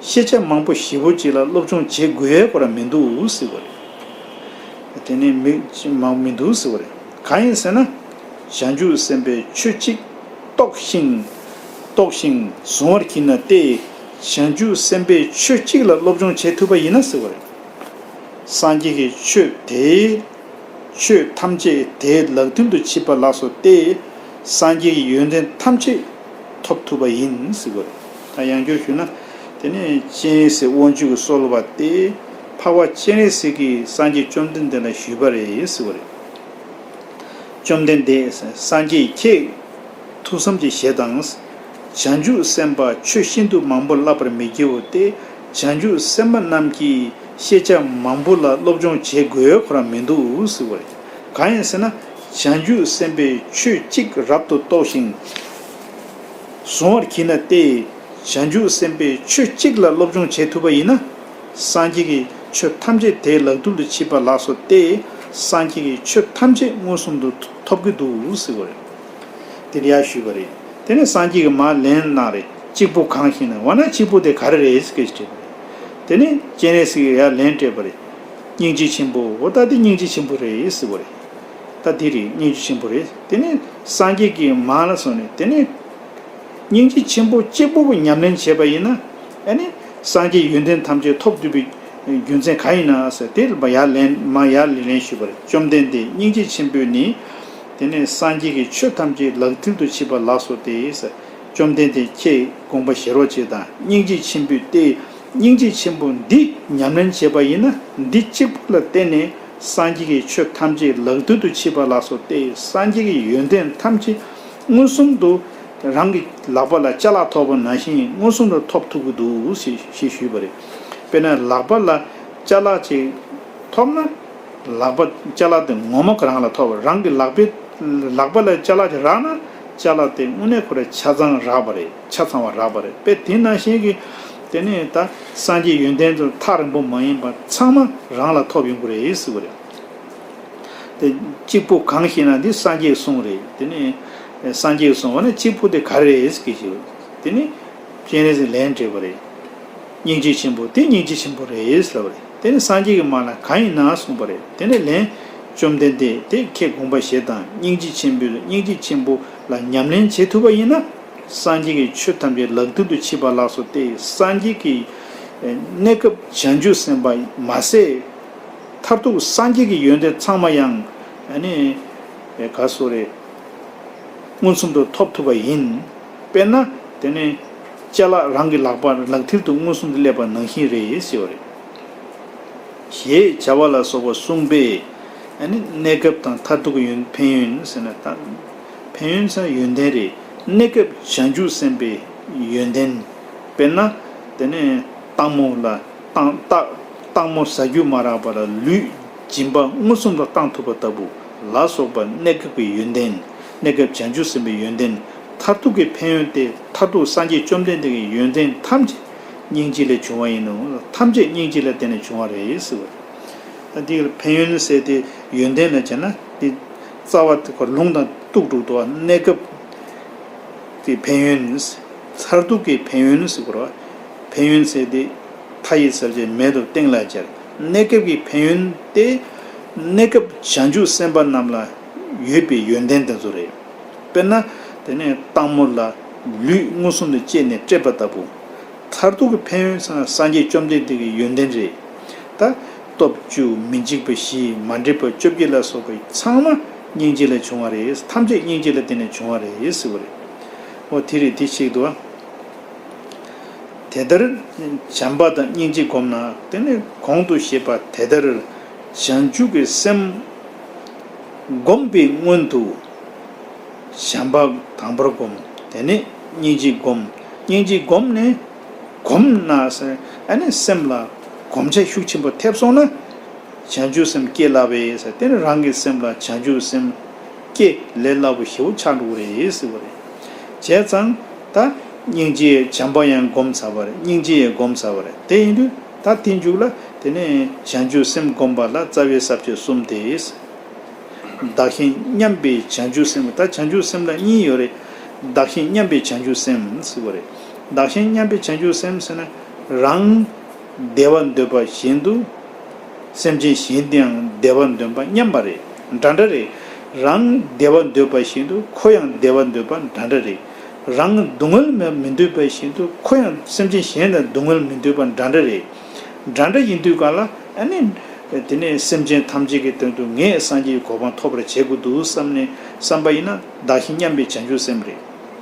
ཤེས་བྱ་མང་པོ་བཞི་བོ་གཅིག་ལ་སློབ་སྦྱོང་བྱེད་དགོས་ཡའི་སྐོར་མི་འདུག་ཟེར་བ་རེད། དེ་ནི་མི་གཅིག་མང་པོ་མི་འདུག་ཟེར་བ་རེད། གང་ཡིན་ཟེར་ན། བྱང་ཆུབ་སེམས་དཔའི་ཆོས་གཅིག་རྟོགས་ཤིང། རྟོགས་ཤིང་གཟུང་བར་གྱིས་ན་སྟེ། བྱང་ཆུབ་སེམས་དཔའི་ཆོས་གཅིག་ལ་སློབ་སྦྱོང་བྱེད་ཐུབ་པ་ཡིན་ན་ཟེར་བ་རེད། སངས་རྒྱས་ཀྱི་ཆོས་དེས། ཆོས་ཐམས་ཅད་དེའི་ལག་མཐིལ་དུ་ཆིབས་པ་ལགས་སོ་སྟེ། སངས་རྒྱས་ཀྱི་ཡོན་ཏན་ཐམས་ཅད་ཐོབ་ཐུབ་པ་ཡིན་ཟེར་བ་རེད། དང་ཡང་བསྒྱུར་ཞུས་ན། དེ་ནས་སྤྱན་རས་གཟིགས་དབང་ཕྱུག་གི་གསོལ་བ་སྟེ། འཕགས་པ་སྤྱན་རས་གཟིགས་ཀྱིས་སངས་རྒྱས་བཅོམ་ལྡན་འདས་ལ་ཞུས་པ་རེད་ཟེར་བ་རེད། བཅོམ་ལྡན་འདས་སངས་རྒྱས་ཁྱེད། ཐུགས་བསམ་གྱི་ཞལ་དང། བྱང་ཆུབ་སེམས་དཔའ་ཆོས་ཤིན་ཏུ་མང་པོ་བསླབ་པར་མི་བགྱི་བོ་སྟེ། བྱང་ཆུབ་སེམས་དཔའ་རྣམས་ཀྱིས་ཤེས་བྱ་མང་པོ་ལ་སློབ་སྦྱོང་བྱེད་དགོས་ཁོ་རང་མི་འདུག་ཟེར་བ་རེད། གང་ཡིན་ཟེར་ན། བྱང་ཆུབ་སེམས་དཔས་ཆོས་གཅིག་རབ་ཏུ་རྟོགས་ཤིང། གཟུང་བར་གྱིས་ན་སྟེ། བྱང་ཆུབ་སེམས་དཔས་ཆོས་གཅིག་ལ་སློབ་སྦྱོང་བྱེད་ཐུབ་པ་ཡིན་ན། སངས་རྒྱས་ཀྱི་ཆོས་ཐམས་ཅད་དེའི་ལག་ཐུབ་ཏུ་མཆིས་པ་ལགས་སོ་སྟེ། སངས་རྒྱས་ཀྱི་ཆོས་ཐམས་ཅད་མངོན་སུམ་དུ་ཐོབ་ཀྱི་འདུག་ཟེར་བ་རེད། དེ་རེ་ཡ་ཞུས་པ་རེད། དེ་ནས་སངས་རྒྱས་ཀྱིས་མ་ལན་གནང་རེ། གཅིག་པུ་གང་ཞིག་ན་བ་ན་གཅིག་པུ་དེ་ག་རེ་རེད་ཀྱི་དྲིས་པ་རེད། དེ་ནས་སྤྱན་རས་གཟིགས་ཀྱིས་ཡ་ལན་སྤྲད་པ་རེད། སྙིང་རྗེ་ཆེན་པོ་འོ་ད་དེ་སྙིང་རྗེ་ཆེན་པོ་རེད་ཟེར་བ་རེད། ད་འདི་རེད་སྙིང་རྗེ་ཆེན་པོ་རེད་དེ་ནས་སངས་རྒྱས་ཀྱི་མང་ལ་སོང་ནས་དེ་ནས། སྙིང་རྗེ་ཆེན་པོ་གཅིག་པུ་པོ་ཉམས་ལེན་བྱས་པ་ཡིན་ན། ཨེ་ནི་སངས་རྒྱས་ཡོན་ཏན་ཐམས་ཅད་ཐོབ་འདོད་པའི་རྒྱུ་མཚན་ག་ཡིན་ན་ཟེར་དེ་ལ་ཡར་ལན་མ་ཡར་ལི་ལན་ཞུས་པ་རེད་བཅོམ་ལྡན་འདས་སྙིང་རྗེ་ཆེན་པོས་ནི། དེ་ནས་སངས་རྒྱས་ཀྱི་ཆོས་ཐམས་ཅད་ལག་མཐིལ་དུ་ཕྱིས་པ་ལགས་སོ་སྟེ། བཅོམ་ལྡན་འདས་ཁྱེད་དགོངས་པ་བཞེས་རོགས་ཅེས་དང་སྙིང་རྗེ་ཆེན་པོས་ཏེ། སྙིང་རྗེ་ཆེན་པོ་འདི་ཉམས་ལེན་བྱེད་པ་ཡིན་ན་འདི་གཅིག་པུ་ལ་བརྟེན་ནས་སངས་རྒྱས་ཀྱི་ཆོས་ཐམས་ཅད་ལག་མཐིལ་དུ་ཕྱིས་པ་ལགས་སོ་སྟེ་སངས་རྒྱས་ཀྱི་ཡོན་ཏན་ཐམས་ཅད་མངོན་སུམ་དུ་རང་གི་ལག་པ་ལ་བཅའ་ལག་ཐོགས་པ་ན་བཞིན་མངོན་སུམ་དུ་ཐོབ་ཐུབ་ཀྱི་འདུག་ཞེས་ཞུས་པ་རེད། དཔེར་ན་ལག་པ་ལ་བཅའ་ལག་ཅིག་ཐོབ་ན་ལག་པ་བཅའ་ལག་དེ་ངོ་མ་རང་ལ་ཐོབ་བ་རང་གི་ལག་པ་ལ་བཅའ་ལག་ཅིག་རག་ན་བཅའ་ལག་དེ་དངོས་གནས་ཁོ་ར་ཆ་ཚང་རག་པ་རེད། ཆ་ཚང་བ་རག་པ་རེད་པས་དེ་ནང་བཞིན་གྱི། དེ་ནས་ད་སངས་རྒྱས་ཡོན་ཏན་དུ་ཐག་རིང་པོ་མ་ཡིན་པར་ཚང་མ་རང་ལ་ཐོབ་ཡོང་གི་རེད་ཟེར་གི་རེད། དེ་གཅིག་པུ་གང་ཞེ་ན་འདི་སངས་རྒྱས་གསུང་རེད་དེ་ནས། སངས་རྒྱས་གསུང་བ་ན་གཅིག་པུ་དེ་ག་རེ་རེད་ཟེར་གི་ཞུ། དེ་ནས། སྤྱན་རས་གཟིགས་ལན་སྤྲད་པ་རེད། སྙིང་རྗེ་ཆེན་པོ་དེ་སྙིང་རྗེ་ཆེན་པོ་རེད་ཟེར་བ་རེད་དེ་ནས་སངས་རྒྱས་ཀྱི་མ་ལ་གང་ཡིན་ན་གསུང་པ་རེད་དེ་ནས་ལན། བཅོམ་ལྡན་འདས་དེ་ཁྱེད་དགོངས་པ་བཞེད་དང་སྙིང་རྗེ་ཆེན་པོས་སྙིང་རྗེ་ཆེན་པོ་ལ་ཉམས་ལེན་བྱེད་ཐུབ་པ་ཡིན་ན། སངས་རྒྱས་ཀྱི་ཆོས་ཐམས་ཅད་ལག་མཐིལ་དུ་མཆིས་པ་ལགས་སོ་སྟེ་སངས་རྒྱས་ཀྱི། གནས་སྐབས་བྱང་ཆུབ་སེམས་དཔའ་མ་ཟད། མཐར་ཐུག་སངས་རྒྱས་ཀྱི་ཡོན་ཏན་ཚང་མ་ཡང། ག་སོ་རེ། མངོན་སུམ་དུ་ཐོབ་ཐུབ་པ་ཡིན། དཔེར་ན། དེ་ནི། ལྕེ་ལག་རང་གི་ལག་པ་ལག་མཐིལ་དུ་མངོན་སུམ་དུ་སླེབས་པ་ནང་བཞིན་རེད་ཟེར་བ་རེད། ཞེས་བྱ་བ་ལ་སོགས་པ་གསུངས་པས། གནས་སྐབས་དང་མཐར་ཐུག་གི་ཡོན་ཕན་ཡོན་ཟེར་ན། ཕན་ཡོན་ཚན་ཡོན་ཏན་རེད། གནས་སྐབས་བྱང་ཆུབ་སེམས་དཔའི་ཡོན་ཏན། དཔེར་ན། དེ་ནས་སྟག་མོ་ལ། སྟག་མོ་ཟ་རྒྱུ་མ་རག་པར་ལུས་སྦྱིན་པ་མངོན་སུམ་དུ་བཏང་ཐུབ་པ་ལྟ་བུ་ལ་སོགས་པ་གནས་སྐབས་ཀྱི་ཡོན་ཏན། གནས་སྐབས་བྱང་ཆུབ་སེམས་དཔའི་ཡོན་ཏན། མཐར་ཐུག་གི་ཕན་ཡོན་ཏེ་མཐར་ཐུག་སངས་རྒྱས་བཅོམ་ལྡན་འདས་ཀྱི་ཡོན་ཏན་ཐམས་ཅད་སྙིང་རྗེ་ལས་བྱུང་བ་ཡིན་ནོ། ཐམས་ཅད་སྙིང་རྗེ་ལ་བརྟེན་ནས་བྱུང་བ་རེད། འདིར་ཕན་ཡོན་ཟེར་ཏེ་ཡོན་ཏན་ལ་བྱས་ན། རྩ་བ། ལུང་དང་གཏུགས་དྲུག་ཏུ་གནས་སྐབས་ཀྱི་ཕན་ཡོན། མཚར་སྡུག་གི་ཕན་ཡོན་ནི་སྐོར་བ། ཕན་ཡོན་ཚད་དེ་མཐའ་ཡས་ཚར་བཅད་མེད་དུ་སྟེང་ལ་སྦྱར། གནས་སྐབས་ཀྱི་ཕན་ཡོན་ཏེ། གནས་སྐབས་བྱང་ཆུབ་སེམས་དཔའ་རྣམས་ལ་ཡོད་པའི་ཡོན་ཏན་དེ་ཚོ་རེད། དཔེར་ན། དེ་ནས་སྟག་མོ་ལ་ལུས་མངོན་སུམ་དུ་བཅད་ནས་བསྐྲད་པ་ལྟ་བུ། མཚར་སྡུག་གི་ཕན་ཡོན་སངས་རྒྱས་བཅོམ་ལྡན་འདས་ཀྱི་ཡོན་ཏན་རེད། ད། སྟོབས་བཅུ་མི་འཇིགས་པ་བཞི་མ་འདྲེས་པ་བཅོ་བརྒྱད་ལ་སོགས་པའི་ཚང་མ་སྙིང་རྗེ་ལས་བྱུང་བ་རེད་ཐམས་ཅད་སྙིང་རྗེ་ལ་བརྟེན་ནས་བྱུང་བ་རེད་ཟེར་བ་རེད། འོ་དེ་རེད་དེ་ཤེས་དགོས། དེ་ལྟར་བྱམས་པ་དང་སྙིང་རྗེ་བསྒོམས་ན་དེ་ནས་གོང་དུ་བཤད་པ་དེ་ལྟར་བྱང་ཆུབ་པའི་སེམས་བསྒོམས་པའི་སྔོན་དུ་བྱམས་པ་དང་པོར་བསྒོམ་དེ་ནས་སྙིང་རྗེ་བསྒོམ་སྙིང་རྗེ་བསྒོམས་ནས། གོམས་ན། སེམས་ལ་གོམས་བྱ་ཤུགས་ཆེན་པོ་ཐེབས་སོང་ན། བྱང་ཆུབ་སེམས་སྐྱེ་སླ་བས། དེ་ནི་རང་གི་སེམས་ལ་བྱང་ཆུབ་སེམས་སྐྱེ་ལས་སླ་པོ་ཞེ་བོ་ཆགས་འགྲོ་གི་རེད་ཟེར་བ་རེད། བྱས་ཙང་ད་སྙིང་རྗེའི་བྱམས་པ་ཡང་སྒོམ་ཚར་བ་རེད་སྙིང་རྗེ་ཡང་སྒོམ་ཚར་བ་རེད་དེ་ཡིན་དུས་ད་དེ་མཇུག་ལ་དེ་ནི་བྱང་ཆུབ་སེམས་སྒོམ་པ་ལ་རྩ་བའི་ཟབ་ཆོས་གསུམ་དེ། བདག་གཞན་མཉམ་པའི་བྱང་ཆུབ་སེམས་ད་བྱང་ཆུབ་སེམས་ལ་གཉིས་ཡོད་རེད། བདག་གཞན་མཉམ་པའི་བྱང་ཆུབ་སེམས་ཟེར་བ་རེད། བདག་གཞན་མཉམ་པའི་བྱང་ཆུབ་སེམས་ཟེར་ན། རང། བདེ་བ་འདོད་པ་བཞིན་དུ། སེམས་ཅན་གཞན་དེའང་བདེ་བ་འདོད་པ་མཉམ་པ་རེད། འདྲ་འདྲ་རེད། རང། བདེ་བ་འདོད་པ་བཞིན་དུ་ཁོ་ཡང་བདེ་བ་འདོད་པ་འདྲ་འདྲ་རེད། རང། སྡུག་བསྔལ་མི་འདོད་པ་བཞིན་དུ་ཁོ་ཡང་སེམས་ཅན་གཞན་དང་སྡུག་བསྔལ་མི་འདོད་པ་འདྲ་འདྲ་རེད། འདྲ་འདྲ་ཡིན་དུས་ག་ལ། ཨ་ནི། དེ་ནས་སེམས་ཅན་ཐམས་ཅད་ཀྱི་དོན་དུ་ངས་སངས་རྒྱས་ཀྱི་གོ་འཕང་ཐོབ་པར་བྱེད་དགོས་འདུག་བསམ་ནས་བསམ་པ་ཡིན་ན་བདག་གཞན་མཉམ་པའི་བྱང་ཆུབ་སེམས་རེད།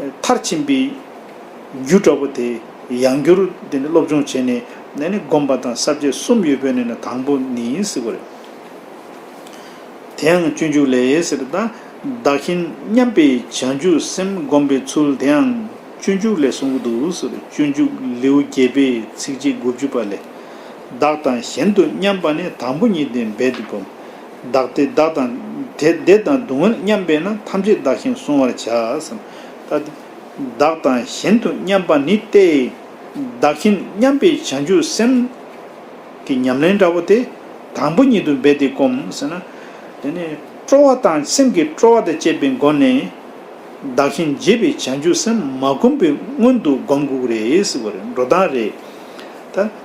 མཐར་ཕྱིན་པའི་རྒྱུ་འདྲ་པོ་དེ་ཡང་བསྒྱུར་དེ་ནི་སློབ་སྦྱོང་བྱས་ནས་ནས་ནི་སྒོམ་པ་དང་གསར་བརྗེ་གསུམ་ཡོད་པའི་ནས་ན་དང་པོ་ནི་ཡིན་སྲིད་པ་རེད། དེའང་སྤྱོད་འཇུག་ལས་ཡེ་སེར་དང་བདག་གཞན་མཉམ་པའི་བྱང་ཆུབ་སེམས་བསྒོམ་པའི་ཚུལ་དེའང་སྤྱོད་འཇུག་ལས་གསུངས་ཀྱི་འདུག་ཟེར་སྤྱོད་འཇུག་ལེའུ་བརྒྱད་པའི་ཚིགས་བཅད་དགུ་བཅུ་པ་ལས། བདག་དང་གཞན་དུ་མཉམ་པ་ནི་དང་པོ་ཉིད་དེ་འབད་དེ་བསྒོམ། བདག་སྟེ་བདག་དང། དེ་བདེ་དང་སྡུག་བསྔལ་མཉམ་པས་ན་ཐམས་ཅད་བདག་བཞིན་བཟུང་བར་བྱ། བདག་དང་གཞན་དུ་མཉམ་པ་ནི་སྟེ། བདག་བཞིན་མཉམ་པའི་བྱང་ཆུབ་སེམས། ཀྱི་ཉམས་ལེན་འདྲ་བོ་དེ། དང་པོ་ཉིད་དུ་འབད་དེ་སྒོམ། ཟེར་ན། དེ་ནས་སྤྲོ་བ་དང་སེམས་ཀྱི་སྤྲོ་བ་དང་བཅས་པའི་སྒོ་ནས། བདག་བཞིན་བརྗེད་པའི་བྱང་ཆུབ་སེམས་མ་བསྒོམ་པའི་སྔོན་དུ་སྒོམ་དགོས་རེད། འགྲོ་སྟངས་རེད།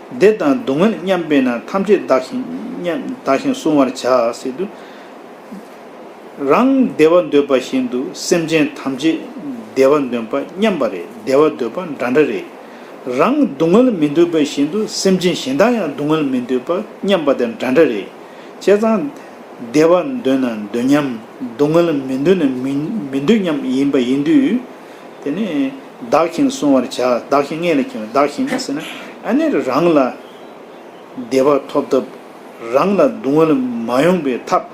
བཟླས་དང་བསྡུ་བསྔོས་མཉམ་སྤེལ་ན་ཐམས་ཅད་བདག་བཞིན་མཉམ། བདག་བཞིན་བསྲུང་བར་བྱ། སྲིད་དུ་རང་བདེ་བ་འདོད་པ་བཞིན་དུ་སེམས་ཅན་ཐམས་ཅད་བདེ་བ་འདོན་པ་མཉམ་པ་རེད་བདེ་བ་འདོད་པ་འདྲ་འདྲ་རེད། རང་བསྡུ་བསྔོལ་མི་འདོད་པ་བཞིན་དུ་སེམས་ཅན་གཞན་དག་ཡང་བསྡུ་བསྔོལ་མི་འདོད་པ་མཉམ་པ་དེ་འདྲ་འདྲ་རེད། བྱས་ཙང། བདེ་བ་འདོད་ན་འདོད་མཉམ། བསྡུ་བསྔོལ་མི་འདོད་ན་མི་འདོད་མཉམ་ཡིན་པ་ཡིན་དུས། དེ་ནས། བདག་གཞན་ལ་སྲུང་བར་བྱ། བདག་གཞན་ལྔས་ལ་ཁེངས། བདག་གཞན་ཟེར་ན་ཨ་ནེ་རུ་རང་ལ་བདེ་བ་ཐོབ་ཐབས། རང་ལ་སྡུག་བསྔལ་མ་ཡོང་པའི་ཐབས་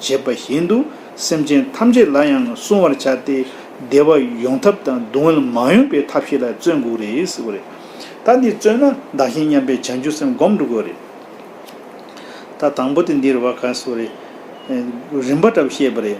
བྱེད་པ་བཞིན་དུ་སེམས་ཅན་ཐམས་ཅད་ལ་ཡང་སྲུང་བར་བྱ་སྟེ། བདེ་བ་ཡོང་ཐབས་དང་སྡུག་བསྔལ་མ་ཡོང་པའི་ཐབས་ཤེས་ལ་བརྩོན་དགོས་རེད། ཟེར་བ་རེད། ད་འདི་བརྩོན་ན་བདག་གཞན་མཉམ་པའི་བྱང་ཆུབ་སེམས་བསྒོམ་འགྲོ་དགོས་རེད། ད་དང་པོ་དེ་འདིར་བ་ག་ཟེར་བ་རེད། རིམ་པ་འདྲ་བོ་བཤད་པ་རེད།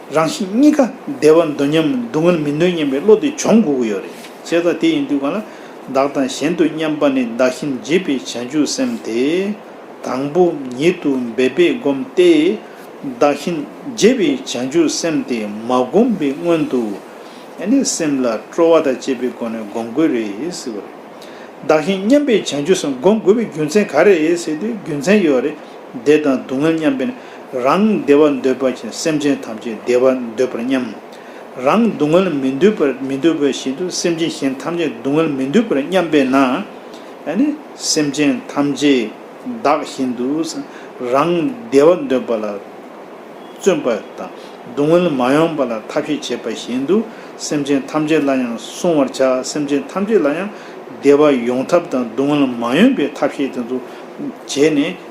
རང་བཞིན་གཉིས་ཀ་བདེ་བ་འདོད་སྙམ་སྡུག་བསྔལ་མི་འདོད་སྙམ་པའི་བློ་དེ་འབྱུང་དགོས་ཀྱི་ཡོད་རེད། བྱས་ཙང་དེ་ཡིན་དུས་གང་ལ་བདག་དང་གཞན་དུ་སྙམ་པ་ནི་བདག་གཞན་བརྗེད་པའི་བྱང་ཆུབ་སེམས་དེ། དང་པོ་ཉིད་དུ་འབད་པས་བསྒོམ་སྟེ། བདག་གཞན་བརྗེད་པའི་བྱང་ཆུབ་སེམས་དེ་མ་བསྒོམ་པའི་སྔོན་དུ། ནི་སེམས་ལ་སྤྲོ་བ་དང་བཅས་པའི་སྒོ་ནས་བསྒོམ་དགོས་རེད། བདག་གཞན་མཉམ་པའི་བྱང་ཆུབ་སེམས་བསྒོམ་དགོས་པའི་རྒྱུ་མཚན་ག་རེ་རེད་ཟེར་དུས་རྒྱུ་མཚན་ཡོད་རེད། བདེ་དང་སྡུག་བསྔལ་མཉམ་པས་ན། རང་བདེ་བ་འདོད་པ་བཞིན་སེམས་ཅན་ཐམས་ཅད་བདེ་བ་འདོད་པར་སྙམ། རང་སྡུག་བསྔལ་མི་འདོད་པར་མི་འདོད་པ་བཞིན་དུ་སེམས་ཅན་གཞན་ཐམས་ཅད་སྡུག་བསྔལ་མི་འདོད་པར་སྙམ་པས་ན། སེམས་ཅན་ཐམས་ཅད་བདག་བཞིན་དུ་རང་བདེ་བ་འདོད་པ་ལ་བརྩོན་པ་དང་སྡུག་བསྔལ་མ་ཡོང་པ་ལ་ཐབས་ཤེས་བྱེད་པ་བཞིན་དུ་སེམས་ཅན་ཐམས་ཅད་ལ་ཡང་བསྲུང་བར་བྱ་སེམས་ཅན་ཐམས་ཅད་ལ་ཡང་བདེ་བ་ཡོང་ཐབས་དང་སྡུག་བསྔལ་མ་ཡོང་པའི་ཐབས་ཤེས་དེ་ཚོ་བྱས་ནས།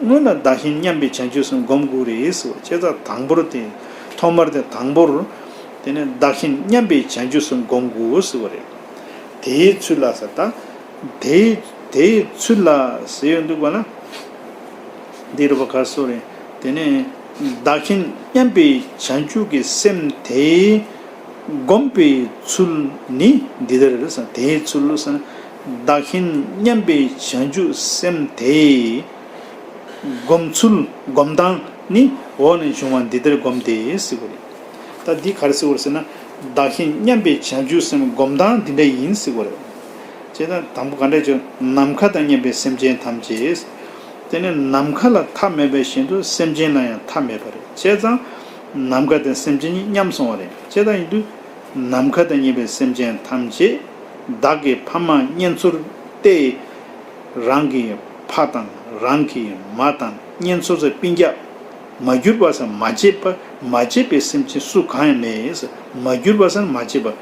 སྔོན་ལ་བདག་གཞན་མཉམ་པའི་བྱང་ཆུབ་སེམས་སྒོམ་དགུ་རེད་ཟེར་བ་ཁྱེད་ཅག་དང་པོར་དེ། ཐོག་མར་དེ་དང་པོར། དེ་ནས་བདག་གཞན་མཉམ་པའི་བྱང་ཆུབ་སེམས་སྒོམ་དགུ་ཟེར་བ་རེད། དེའི་ཚུལ་ལ་ཟེར། དེ། དེའི་ཚུལ་ལ་ཟེར་ཡོད་འདུག་པ་ན། འདིར་བ་ཁ་གསོ་རེད། དེ་ནས། བདག་གཞན་མཉམ་པའི་བྱང་ཆུབ་ཀྱི་སེམས་དེ། སྒོམ་པའི་ཚུལ་ནི་འདི་ལྟར་རེད། དེའི་ཚུལ་ཟེར་ན། བདག་གཞན་མཉམ་པའི་བྱང་ཆུབ་སེམས་དེས། བསྒོམ་ཚུལ་བསྒོམ་སྟངས་ནི་འོག་ནས་འབྱུང་བ་འདི་ལྟར་བསྒོམ་སྟེ་ཟེར་བ་རེད། ད་འདི་ག་རེ་ཟེར་བར་ཟེར་ན། བདག་གཞན་མཉམ་པའི་བྱང་ཆུབ་སེམས་བསྒོམ་སྟངས་འདི་འདྲ་ཡིན་ཟེར་བ་རེད། ཅེས་དང་དང་པོ་ག་འདྲ་བྱུང་ནམ་མཁའ་དང་མཉམ་པའི་སེམས་ཅན་ཐམས་ཅད། དེ་ནི་ནམ་མཁའ་ལ་མཐའ་མེད་པ་བཞིན་དུ་སེམས་ཅན་ལ་ཡང་མཐའ་མེད་པ་རེད་ཅེས་དང། ནམ་མཁའ་དང་སེམས་ཅན་གཉིས་མཉམ་སོང་བ་རེད་ཅེས་དང་ཡིན་དུས། ནམ་མཁའ་དང་གཉིས་པའི་སེམས་ཅན་ཐམས་ཅད་བདག་གི་ཕ་མ་གཉེན་ཚོར་ཏེ། རང་གི་ཕ་དང་རང་གི་མ་དང་གཉེན་ཚོར་ས་པིན་རྒྱ། མ་གྱུར་པ་སར་མ་སྐྱེས་པ་མ་སྐྱེས་པའི་སེམས་ཅན་སུ་གང་ཡང་མེད་ཡིན། སར་མ་གྱུར་པ་སར་མ་སྐྱེས་པ།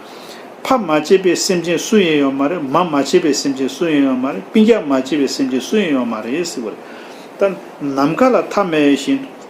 ཕ་མ་སྐྱེས་པའི་སེམས་ཅན་སུ་ཡང་ཡོད་མ་རེད་མ་མ་སྐྱེས་པའི་སེམས་ཅན་སུ་ཡང་ཡོད་མ་རེད་པིན་རྒྱ་མ་སྐྱེས་པའི་སེམས་ཅན་སུ་ཡང་ཡོད་མ་རེད། ནམ་མཁའ་ལ་ཐ་མལ་བཞིན་དུ།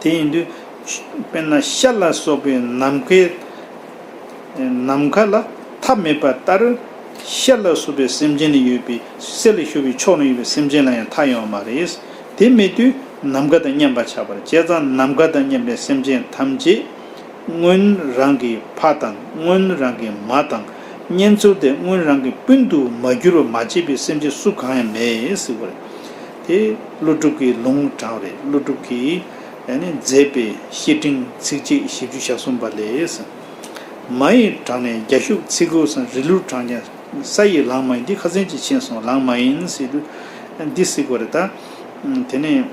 དེ་ཡིན་དུས། དཔེར་ན་ཤར་ལ་སོགས་པའི་ནམ་མཁའི་ནམ་མཁའ་ལ་ཐ་མལ་པ་ལྟར། ཤར་ལ་སོགས་པའི་སེམས་ཅན་ལ་ཡོད་པའི་གསེར་ལས་བྱུགས་པའི་ཕྱོགས་ན་ཡོད་པའི་སེམས་ཅན་ལ་ཡང་ཐ་ཡོང་བ་མ་རེད། དེ་མེད་དུས་ནམ་མཁའ་དང་མཉམ་པར་ཆགས་པར་བྱས་ཙང་ནམ་མཁའ་དང་མཉམ་པའི་སེམས་ཅན་ཐམས་ཅད། སྔོན་རང་གི་ཕ་དང་སྔོན་རང་གི་མ་དང་གཉེན་ཚོར་ཏེ་སྔོན་རང་གི་སྤུན་དུ་མ་གྱུར་བར་མ་བྱས་པའི་སེམས་ཅན་སུ་གང་ཡང་མེད། དེ་ཀླུ་སྒྲུབ་ཀྱི་ལུང་དྲངས་རེད་ཀླུ་སྒྲུབ་ཀྱིས་མཛད་པའི་བཤེས་སྤྲིང་ཚིགས་བཅད་བཞི་བཅུ་ཞག་གསུམ་པ་ལས། མ་ཡི་དྲང་ནས་རྒྱ་ཤུག་ཚིག་དགུ་སང་རི་ལུར་དྲངས་ཀྱང་ས་ཡི་ལངས་མ་ཡིན་འདི་ཁ་ཚན་གྱིས་ཕྱིན་སོང་ལངས་མ་ཡིན་སྲིད་དུ་འདི་གཟིགས་པ་རེད་ད། དེ་ནས།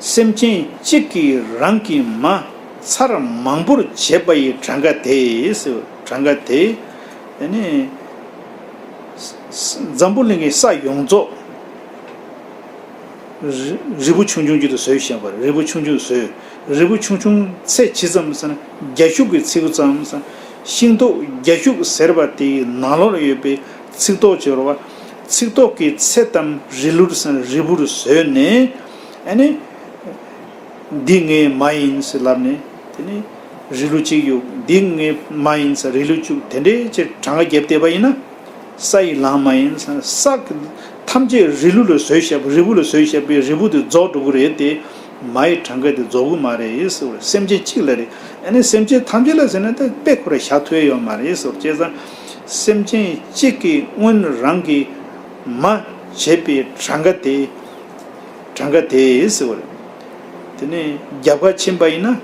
སེམས་ཅན་གཅིག་གིས་རང་གི་མ་མཚར་མང་པོར་བྱས་པ་ཡི་གྲངས་ཀ་དེས་གྲངས་ཀ་དེ། འཛམ་བུ་གླིང་གི་ས་ཡོངས་རྫོགས། རི་བོ་ཆུང་ཆུང་རྒྱུད་དུ་ཟོས་ཞེས་པ་རི་བོ་ཆུང་ཆུང་ཟོས། རི་བོ་ཆུང་ཆུང་ཚད་ཇི་ཙམ་ཟེར་ན་རྒྱ་ཤུག་གི་ཚིགས་ཙམ། ཤིང་ཏོག་རྒྱ་ཤུག་ཟེར་བ་དེའི་ནང་ལོགས་ལ་ཡོད་པའི་ཚིགས་ཏོག་ཅེས་པ། ཚིགས་ཏོག་གི་ཚད་ཙམ་རི་ལུར་ཟེར་ན་རི་བོར་ཟོས་ནས། འདི་ངས་མ་ཡིན་ཟེར་ལབ་ནས་དེ་ནས་རི་ལུ་གཅིག་གཡུག་འདི་ངས་མ་ཡིན་ཟེར་རི་ལུ་བཅུག་དེ་འདྲའི་ཕྱིར་གྲངས་ཀ་བརྒྱབ་བལྟས་པ་ཡིན་ན་ས་ཡི་ལངས་མ་ཡིན་ཟེར་ས་ཐམས་ཅད་རི་ལུ་ལ་བཟོས་བཤད་རི་བོ་ལ་བཟོས་བཤད་པས་རི་བོ་དེ་རྫོགས་འགྲོ་གི་རེད་དེ། མ་ཡི་གྲངས་ཀ་དེ་རྫོགས་གི་མ་རེད་ཟེར་བས་སེམས་ཅན་གཅིག་ལ་རེད་ཨེ་ནས་སེམས་ཅན་ཐམས་ཅད་ལ་ཟེར་ན་ད་དཔེ་ཁོ་ར་ཞག་ཐོས་ཡོད་མ་རེད་ཟེར་བ་བཅས་ཙང་སེམས་ཅན་གཅིག་གིས་སྔོན་རང་གིས་མ་བྱས་པའི་གྲངས་ཀ་དེ། གྲངས་ཀ་དེས་ཟེར་བ་རེད། དེ་ནས་རྒྱབ་ཁ་ཕྱིན་པ་ཡིན་ན།